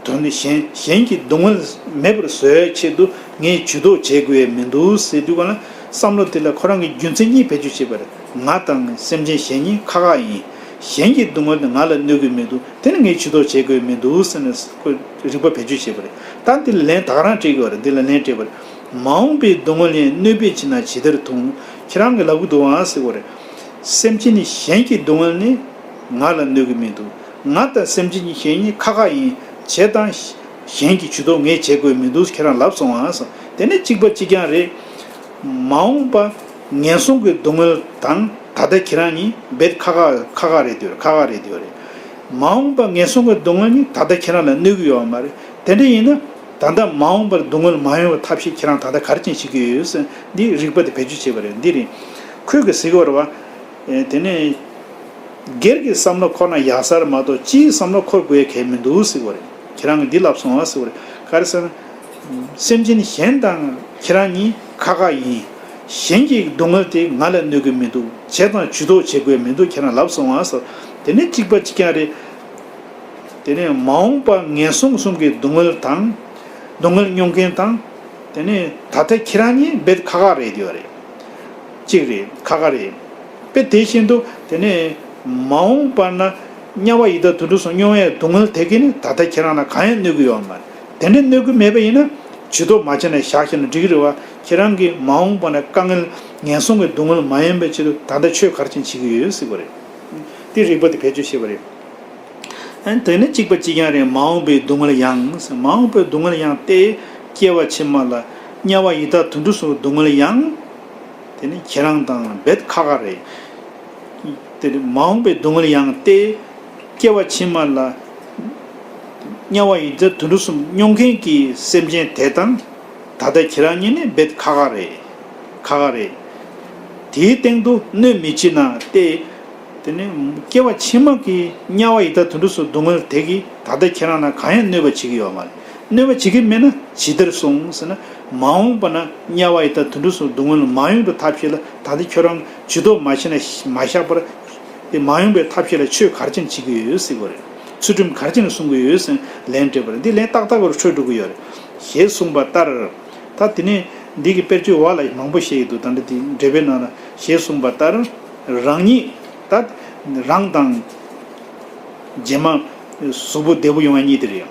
དོན་དེ་གཞན་གྱི་སྡུག་བསྔལ་མེད་པར་བཟོས་ཆེད་དུ་ངས་ཇུས་གཏོགས་བྱེད་དགོས་ཡས་མི་འདུག་ཟེར་དུས་གང་ལ། བསམ་བློ་དེ་ལ་ཁོ་རང་གི་རྒྱུ་མཚན་གཉིས་བེད་སྤྱོད་བྱེད་པར་ང་དང་སེམས་ཅན་གཞན་གཉིས་ཁག་ཁག་ཡིན། གཞན་གྱི་སྡུག་བསྔལ་དེ་ང་ལ་གནོད་དགོས་མི་འདུག་དེ་ནི་ངས་བྱུས་གཏོགས་བྱེད་དགོས་མི་འདུག་ཟེར་ནས་ཁོས་རིག་པ་བེད་སྤྱོད་བྱེད་པར་ད་འདི་ལ་ལན་དག་རང་སྤྲད་དགོས་བར་འདི་ལ་ལན་སྤྲད་པར། མ་འོངས་པའི་སྡུག་བསྔལ་ཡང་གནོད་པས་ཕྱི་ནང་ཇི་ལྟར་ཐུང། ཁྱེད་རང་གི་ལག་གུ་དུའང་བསྲེགས་བར། སེམས་ཅན་ནི་གཞན་གྱི་སྡུག་བསྔལ་ནི་ང་ལ་གནོད་དགོས་མི་འདུག་ང་དང་སེམས་ཅན་གྱི་གཞན་གཉིས་ཁག་ཁག་ཡིན། བྱས་དང། གཞན་གྱིས་ཇུས་གཏོགས་ངས་བྱེད་དགོས་མི་འདུག་ཁྱེད་རང་ལབ་སོང་ཨང་སོང་དེ་ནི་གཅིག་པ་གཅིག་རྐྱང་རེད། མ་འོངས་པ་ངན་སོང་གི་སྡུག་བསྔལ་དང་ད་ལྟ་ཁྱེད་རང་གཉིས་འབད་ཁག་ཁག་ཁག་ཁག་རེད་འདོད་ཁག་ཁག་རེད་འདོད་རེད། མ་འོངས་པ་ངན་སོང་གི་སྡུག་བསྔལ་ནི་ད་ལྟ་ཁྱེད་རང་ལ་གནོད་གི་ཡོད་བ་མ་རེད་དེ་འདྲ་ཡིན་ན། ད་ལྟ་མ་འོངས་པར་སྡུག་བསྔལ་མ་ཡོང་བའི་ཐབས་ཤེས་ཁྱེད་རང་ད་ལྟ་ག་རེ་ཅན་བྱེད་ཀྱི་ཡོད་ཡོད་སེམས་འདི་རིག་པ་དེ་བེད་སྤྱོད་བྱེད་པ་རེད་འདི་རེད། ཁོད་གི་ཟིག་བར་བ། དེ་ནས། སྒེར་གྱི་བསམ་བློ་ཁོ་ན་ཡག་སར་མ་གཏོགས་སྤྱིའི་བསམ་བློ་འཁོར་དགོས་གལ་མི་འདུག་ཟིག་བར། ཁྱེད་རང་གིས་འདི་ལབ་སོང་ཟེར་བ་རེད། ག་རེ་ཟེར་ན། སེམས་ཅན་གཞན་དང་ཁྱེད་རང་གཉིས་ཁ་ཁ་ཡིན། གཞན་གྱི་སྡུག་བསྔལ་དེ་ང་ལ་གནོད་གི་མི་འདུག་བྱས་དང་ཇུས་གཏོགས་བྱེད་དགོས་མི་འདུག་ཁྱེད་རང་ལབ་སོང་ཟེར་བ། དེ་ནི་གཅིག་པ་གཅིག་རྐྱང་རེད། དེ་ནས་མ་འོངས་པ་ངན་སོང་གསུམ་གྱི་སྡུག་བསྔལ་དང། སྡུག་བསྔལ་མྱོང་མཁན་དང། དེ་ནས་ད་ལྟ་ཁྱེད་རང་གཉིས་རྦད་དེ་ཁ་ཁ་རེད་བསྡད་པ་རེད། གཅིག་རེད་ཁ་ཁ་རེད། པས་དེ་བཞིན་དུ་དེ་ནས་མ་འོངས་པ་ན་དམྱལ་བ་ཡི་དྭགས་དུད་འགྲོ་སོགས་སྨྱོ་བའི་སྡུག་བསྔལ་དེ་གས་ནི་ད་ལྟ་ཁྱེད་རང་ལ་གང་ཡང་གནོད་ཀྱི་ཡོད་བ་མ་རེད། དེ་འདྲའི་གནོད་ཀྱི་མེད་པ་ཡིན་ན་བྱི་དོར་མ་བྱས་ནས་བཞག་ཤེས་ན་འགྲིག་གི་རེད་བ། ཁྱེད་རང་གིས་མ་འོངས་པ་ན་དཀའ་ངལ་ངན་སོང་གི་སྡུག་བསྔལ་མ་ཡོང་པའི་ཆེད་དུ་ད་ལྟ་ཆོས་གར་ཅན་བྱེད་ཀྱི་ཡོད་ཡོད་སྲིད་པ་རེད། དེ་རིགས་པ་དེ་བེད་སྤྱོད་བྱེད་པ་རེད། དེ་ནི་གཅིག་པ་གཅིག་རྐྱང་རེད་མ་འོངས་པའི་སྡུག་བསྔལ་ཡང། མ་འོངས་པའི་སྡུག་བསྔལ་ཡང་སྟེ། སྐྱེ་བ་ཕྱི་མ་ལ། དམྱལ་བ་ཡི་དྭགས་དུད་འགྲོ་སོགས་སྡུག་བསྔལ་ཡང། དེ་ནི་ཁྱེད་རང་དང་བེད་ཁ་ཁ་རེད། དེར་མ་འོངས་པའི་སྡུག་བསྔལ་ཡང་སྟེ། སྐྱེ་བ་ཕྱི་མ་ལ། དམྱལ་བ་ཡི་རྫས་དུད་འགྲོ་གསུམ་སྨྱོ་མཁན་གྱི་སེམས་ཅན་དེ་དང། ད་ལྟ་ཁྱེད་རང་གཉིས་ནི་བེད་ཁ་ཁ་རེད། ཁ་ཁ་རེད། དེའི་སྟེང་དུ་གནོད་མི་བྱེད་ན་སྟེ། དེ་ནས་སྐྱེ་བ་ཕྱི་མ་གི་དམྱལ་བ་ཡི་དྭགས་དུད་འགྲོ་སོགས་སྡུག་བསྔལ་དེ་གིས་ད་ལྟ་ཁྱེད་རང་ལ་གང་ཡང་གནོད་པ་བྱེད་ཀྱི་ཡོད་མ་རེད། གནོད་པ་བྱེད་ཀྱི་མེད་ན་ཇི་ལྟར་སོང་ཟེར་ན། མ་འོངས་པ་ན་དམྱལ་བ་ཡི་དྭགས་དུད་འགྲོ་སོགས་སྡུག་བསྔལ་མ་ཡོང་བའི་ཐབས་ཤེས་ལ་ད་ལྟ་ཁྱོད་རང་ཇུས་གཏོགས་མ་བྱས་ན་མ་བཞག་པར། དེ་མ་ཡོང་པའི་ཐབས་ཤེས་ལ་ཆོས་གར་ཅན་བྱེད་ཀྱི་ཡོད་ཟེར་གྱི་རེད། ཚུལ་ཁྲིམས་གར་ཅན་གསུང་གི་ཡོད་ཟེར་ལན་སྤྲད་པ་རེད་འདི་ལན་ཏག་ཏག་པར་འཕྲོད་འགྲོ་གི་ཡོད་རེད། ཞེས་གསུངས་པ་ལྟར། ད་དེ་ནས་འདི་གི་དཔེར་བརྗོད་འོག་ལ་མང་པོ་བཤད་ཡོད་འདུག་ད་འདྲ་འདི་འགྲེལ་པའི་ནང་ལ་ཞེས་གསུངས་པ་ལྟར། རང་ཉིད་ད། རང་དང། རྗེས་མ། གཟུགས་པོ་བདེ་པོ་ཡོང་བ་གཉིས་དེ་རེད་ཡང།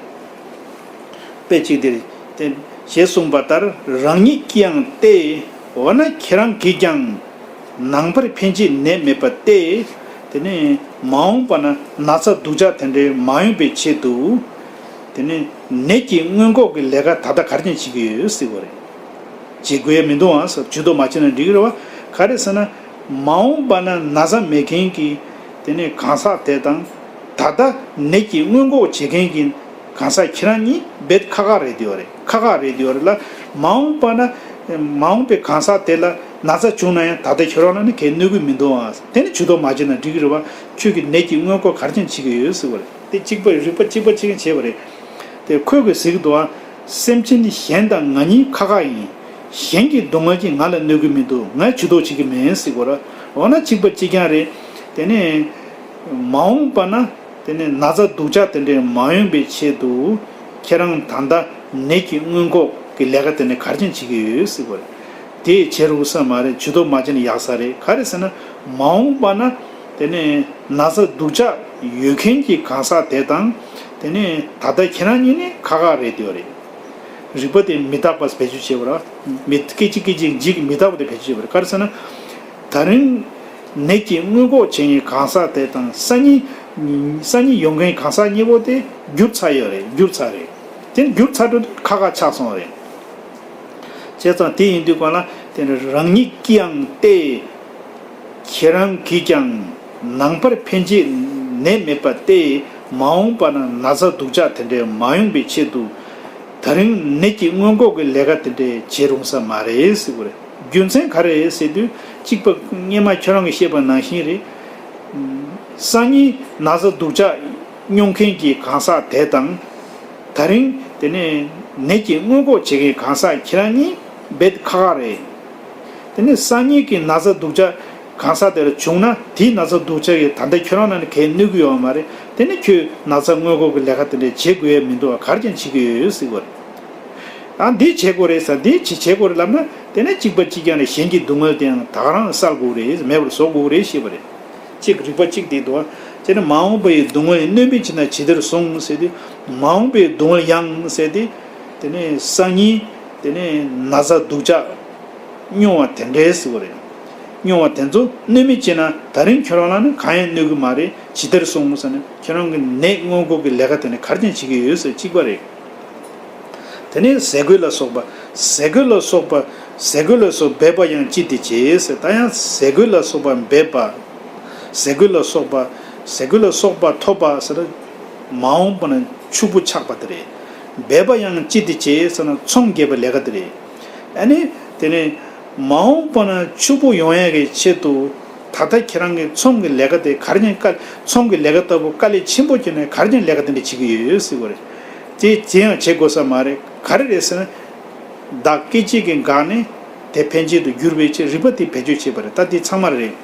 དཔེ་གཅིག་དེ། ཞེས་གསུངས་པ་ལྟར་རང་ཉིད་ཀྱིའང་སྟེ། འོ་ན་ཁྱེད་རང་གིས་ཀྱང། ནང་པར་ཕན་ཆད་ནད་མེད་པ་སྟེ། དེ་ནས། མ་འོངས་པ་ན་ན་ཚ་སྡུག་ཅག་དེ་འདྲའི་མ་ཡོང་པའི་ཆེད་དུ། དེ་ནས། ནད་ཀྱི་སྔོན་འགོག་གི་ལས་ཀ་ད་ལྟ་ག་རྒྱས་བྱེད་ཀྱི་ཡོད། བྱེད་དགོས་ཡ་མི་འདུག་ཨང། ཇུས་གཏོགས་མ་བྱས་ན་འགྲིག་གི་རེད་བ། ག་རེ་ཟེར་ན། མ་འོངས་པ་ན་ན་བཟའ་མེད་མཁན་གྱི་དེ་ནས་གང་ཟག་དེ་དང། ད་ལྟ་ནད་ཀྱིས་སྔོན་འགོག་བྱེད་མཁན་གྱི་གང་ཟག་ཁྱེད་རང་གཉིས་རྦད་ཁ་ཁ་རེད་དེ་བ་རེད་ཁ་ཁ་རེད་དེ་བ་རེད་ལ། མ་འོངས་པ་ན་མ་འོངས་པའི་གང་ཟག་དེ་ལ་ན་བཟའ་བྱུང་ན་ཡང་ད་ལྟ་ཁྱོད་རང་ལ་ནི་གས་གནོད་གི་མི་འདུག་ཨང་དེ་ནི་ཇུས་གཏོགས་མ་བྱས་ན་འགྲིག་གི་རེད་བ་ཁྱོད་ཀྱིས་ནད་ཀྱིས་སྔོན་འགོག་གར་འགྱངས་བྱེད་ཀྱི་ཡོད་ཟེར་བ་རེད་དེ་གཅིག་པ་རིག་པ་གཅིག་པ་གཅིག་བྱས་བ་རེད་དེ་ཁོས་གོས་ཟེར་གི་འདུག་ཨང། སེམས་ཅན་ནི་གཞན་དང་ང་གཉིས་ཁ་ཁ་ཡིན། གཞན་གྱི་སྡུག་བསྔལ་གྱིས་ང་ལ་གནོད་གི་མི་འདུག་ངས་བྱུས་གཏོགས་བྱེད་ཀྱི་མིན་སྲིད་གོ་ར། འོ་ན་ཅིག་པ་ཅིག་རྐྱང་རེད། དེ་ནས། མ་འོངས་པ་ན། དེ་ནས་ན་ཚ་སྡུག་ཅག་དེ་འདྲའི་མ་ཡོང་པའི་ཆེད་དུ། ཁྱེད་རང་ད་ལྟ་ནད་ཀྱི་སྔོན་འགོག་གི་ལས་ཀ་དེ་འདྲ་གར་ཅན་བྱེད་ཀྱི་ཡོད་སྲིད་གོ་ར། དེས་བྱེད་རུང་ས་མ་རེད་བྱུས་གཏོགས་མ་བྱས་ན་ཡག་ས་རེད་ག་རེ་ཟེར་ན། མ་འོངས་པ་ན། དེ་ནས་ན་ཚ་སྡུག་ཅག་ཡོད་མཁན་གྱི་གང་ཟག་དེ་དང། དེ་ནས་ད་ལྟ་ཁྱེད་རང་གཉིས་ནི་ཁ་ཁ་རེད་འདོད་རེད། རིག་པ་དེ་མི་རྟག་པ་བེད་སྤྱོད་བྱེད་པ་ར། མི་སྐད་ཅིག་སྐད་ཅིག་འཇིག་མི་རྟག་པ་དེ་བེད་སྤྱོད་བྱེད་པ་རེད་ག་རེ་ཟེར་ན། ད་རིང་ནད་ཀྱིས་མངོན་ལྐོག་བྱེད་མཁན་གང་ཟག་དེ་དང་ས་གཉིས། ས་གཉིས་ཡོད་མཁན་གང་ཟག་གཉིས་པོ་དེ་འགྱུར་ཚར་ཡོད་རེད་འགྱུར་ཚར་རེད། དེ་ནི་འགྱུར་ཚར་འགྲོ་དུས་ཁ་ཁ་ཆགས་སོང་རེད། བྱས་ཙང་དེ་ཡིན་དུས་གོ་ན་དེ་ནི་རང་ཉིད་ཀྱིའང་ལྟས། ཁྱེད་རང་གིས་ཀྱང་ནང་པར་ཕན་ཆད་ནད་མེད་པ་སྟེ་མ་འོངས་པ་ན་ན་ཚ་སྡུག་ཅག་དེ་འདྲས་མ་ཡོང་པའི་ཆེད་དུ། ད་རིང་ནད་ཀྱི་སྔོན་འགོག་གི་ལས་ཀ་དེ་འདྲས་བྱེད་རུང་ས་མ་རེད། རྒྱུ་མཚན་ག་རེད་ཟེར་དུས་གཅིག་པ་སྙེ་མ་ཁྱོད་རང་གི་བཤད་པ་ནང་བཞིན་རེད། སང་ཉིན་ན་ཚ་སྡུག་ཅག་སྨྱོ་མཁན་གྱི་གང་ཟག་དེ་དང། ད་རིང་དེ་ནས་ནད་ཀྱི་སྔོན་འགོག་བྱེད་མཁན་གང་ཟག་ཁྱེད་རང་གཉིས། འབད་ཁག་ཁག་རེད། དེ་ནས་སང་ཉིན་གྱི་ན་ཚ་སྡུག་ཅག་གང་ཟག་དེར་བྱུང་ན་དེའི་ན་ཚ་སྡུག་ཅག་གིས་ད་ལྟ་ཁྱོད་རང་ལ་ནི་གལ་གནོད་གི་ཡོད་བ་མ་རེད་དེ་ནི་ཁྱོས་ན་ཚ་སྔོན་འགོག་གི་ལས་ཀ་དེ་འདྲའི་བྱེད་དགོས་ཡས་མི་འདུག་བ་གར་ཀྱང་བྱེད་ཀྱི་ཡོད་ཡོད་སྲིད་དགོས་རེད། ཨ་འདི་བྱེད་དགོས་རེད་ས་འདི་བྱེད་བྱེད་དགོས་རེད་ལབ་ན་དེ་ནས་གཅིག་པ་གཅིག་རྐྱང་རེད་གཞན་གྱི་སྡུག་དངོས་དེའང་དག་རང་བསལ་དགོས་རེད་མེད་པར་བཟོ་དགོས་རེད་ཤེས་པ་རེད། གཅིག་རིག་པ་གཅིག་དེ་འདུག་དེ་ནས་མ་འོངས་པའི་སྡུག་དངོས་གནོད་མེད་བྱེད་ན་ཇི་ལྟར་བཟུང་ཟེར་ཏེ། མ་འོངས་པའི་སྡུག་དངོས་ཡང་ཟེར་ཏེ། དེ་ནས་ས་གཉིས། དེ་ནས་ན་བཟའ་སྡུག་ཅག། སྨྱོ་བ་དེ་འདྲའི་ཟེར་བ་རེད། སྨྱོ་བ་དེ་ཚོ་གནོད་མི་བྱེད་ན་ད་རིང་ཁྱོད་རང་ལ་ནི་གང་ཡང་གནོད་གི་མ་རེད་ཇི་ལྟར་སོང་ངོ་ས་ནི་ཁྱོད་རང་གི་ནད་སྔོན་འགོག་གི་ལས་ཀ་དེ་ནི་གར་ཀྱང་བྱེད་ཀྱི་ཡོད་ཟེར་གཅིག་པ་རེད། དེ་ནས་ཟས་གོས་ལ་སོགས་པ། ཟས་གོས་ལ་སོགས་པ། ཟས་གོས་ལ་སོགས་འབེབས་པ་ཡང་ཅི་སྟེ་བྱེད་ཟེར་ད་ཡང་ཟས་གོས་ལ་སོགས་པ་འབེབས་པ། ཟས་གོས་ལ་སོགས་པ། ཟས་གོས་ལ་སོགས་པ་ཐོབ་པ་ཟེར། མ་འོངས་པ་ན་ཕྱུག་པོ་ཆགས་པ་དེ་རེད། འབད་པ་ཡང་ཅི་སྟེ་བྱེད་ཟེར་ན་ཚོང་རྒྱས་པའི་ལས་ཀ་དེ་རེད། ཨ་ནི། དེ་ནི། མ་འོངས་པ་ན་ཕྱུག་པོ་ཡོང་ཡག་གི་ཆེད་དུ། ད་ལྟ་ཁྱེད་རང་གིས་ཚོང་གི་ལས་ཀ་དེ་གར་ཀྱང་དཀའ། ཚོང་གི་ལས་ཀ་ལྟ་བུ་དཀའ་ལས་ཆེན་པོ་བྱས་ནས་གར་ཀྱང་ལས་ཀ་དེ་འདྲ་བྱེད་ཀྱི་ཡོད་ཟེར་གི་རེད། དེ་དེ་ཡང་བྱེད་དགོས་ས་མ་རེད་ག་རེ་རེད་ཟེར་ན། བདག་སྐད་ཅིག་གིས་འགག་ནས་དེ་ཕན་ཆད་དུ་འགྱུར་བའི་ཆེད་རིག་པ་དེ་བེད་སྤྱོད་བྱས་པ་རེད་ད་དེ་ཚང་མ་རེད།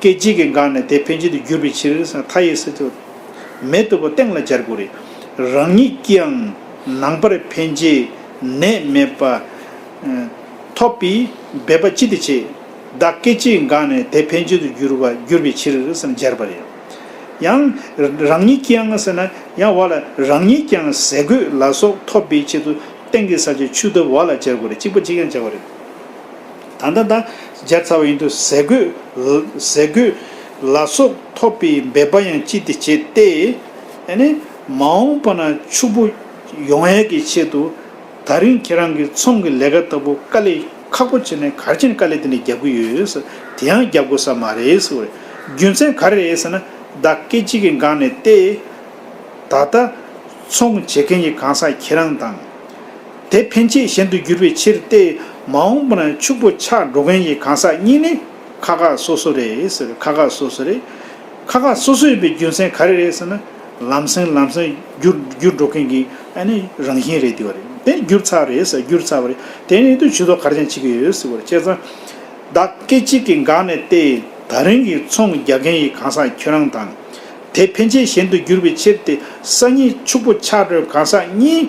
སྐད་ཅིག་གིས་འགགས་ནས་དེ་ཕན་ཆད་དུ་གྱུར་པའི་ཕྱིར་ས་མཐའ་ཡས་སུ་ཐེག་མེད་ལྟ་བུ་སྟེང་ལ་སྦྱར་དགོས་རེད། རང་ཉིད་ཀྱིའང་ནང་པར་ཕན་ཆད་ནད་མེད་པ། ཐོབ་པས་འབད་པ་ཅི་སྟེ་བྱེད། བདག་སྐད་ཅིག་གིས་འགགས་ནས་དེ་ཕན་ཆད་དུ་གྱུར་བ་གྱུར་པའི་ཕྱིར་ས་སྦྱར་བ་རེད། ཡང། རང་ཉིད་ཀྱིའང་ཟེར་ན་ཡང་བ་ལ་རང་ཉིད་ཀྱིའང་ཟས་གོས་ལ་སོགས་ཐོབ་པའི་ཆེད་དུ་སྟེང་གི་ས་ཆ་ཆུ་ལྟ་བུ་བ་ལ་སྦྱར་དགོས་རེད་གཅིག་པ་གཅིག་ཀྱང་སྦྱར་བ་རེད། ད་ལྟ་ད་སྦྱར་ཚར་བ་ཡིན་དུ་ཟས་གོས། ཟས་གོས། ལ་སོགས་ཐོབ་པའི་འབད་པ་ཡང་ཅི་སྟེ་བྱེད་དེ། ནི། མ་འོངས་པ་ན་ཕྱུག་པོ་ཡོང་ཡས་ཀྱི་ཆེད་དུ། ད་རིང་ཁྱེད་རང་གི་ཚོང་གི་ལས་ཀ་ལྟ་བུ་དཀའ་ལས་ཁག་པོ་བྱེད་ནས་གར་ཆེན་དཀའ་ལས་དེ་འདྲ་རྒྱབ་གི་ཡོད། དེ་ཡང་རྒྱབ་དགོས་ས་མ་རེད་ཟེར་བ་རེད། རྒྱུ་མཚན་ག་རེ་རེད་ཟེར་ན། བདག་སྐད་ཅིག་གི་འགངས་ནས་ཏེ། ད་ལྟ། ཚོང་བྱེད་མཁན་གྱི་གང་ཟག་ཁྱེད་རང་དང། དེ་ཕན་ཆད་གཞན་དུ་འགྱུར་བའི་ཕྱིར་ཏེ། མ་འོངས་པར་ཕྱུག་པོ་ཆགས་འགྲོ་མཁན་གྱི་གང་ཟག་གཉིས་ནི། ཁ་ཁ་སོ་སོ་རེད། ཁ་ཁ་སོ་སོ་རེད། ཁ་ཁ་སོ་སོ་ཡིན་པའི་རྒྱུ་མཚན་ག་རེ་རེད་ཟེར་ན། ལམ་སེང་ལམ་སེང་འགྱུར་འགྲོ་མཁན་གྱི་རང་བཞིན་རེད་དེ་བ་རེད། དེ་ནི་འགྱུར་ཚར་རེད་ཟེར་འགྱུར་ཚར་བ་རེད། དེ་ནི་དུས་ཐོག་གར་ཀྱང་བྱེད་ཀྱི་ཡོད་ཟེར་བ་རེད་བྱས་ཙང། བདག་སྐད་ཅིག་གིས་འགག་ནས་ཏེ། ད་རིང་གི་ཚོང་རྒྱག་མཁན་གྱི་གང་ཟག་ཁྱོད་རང་དང། དེ་ཕན་ཆད་གཞན་དུ་འགྱུར་བའི་ཕྱིར་ཏེ། སང་ཉིན་ཕྱུག་པོ་ཆགས་འགྲོའི་གང་ཟག་གཉིས།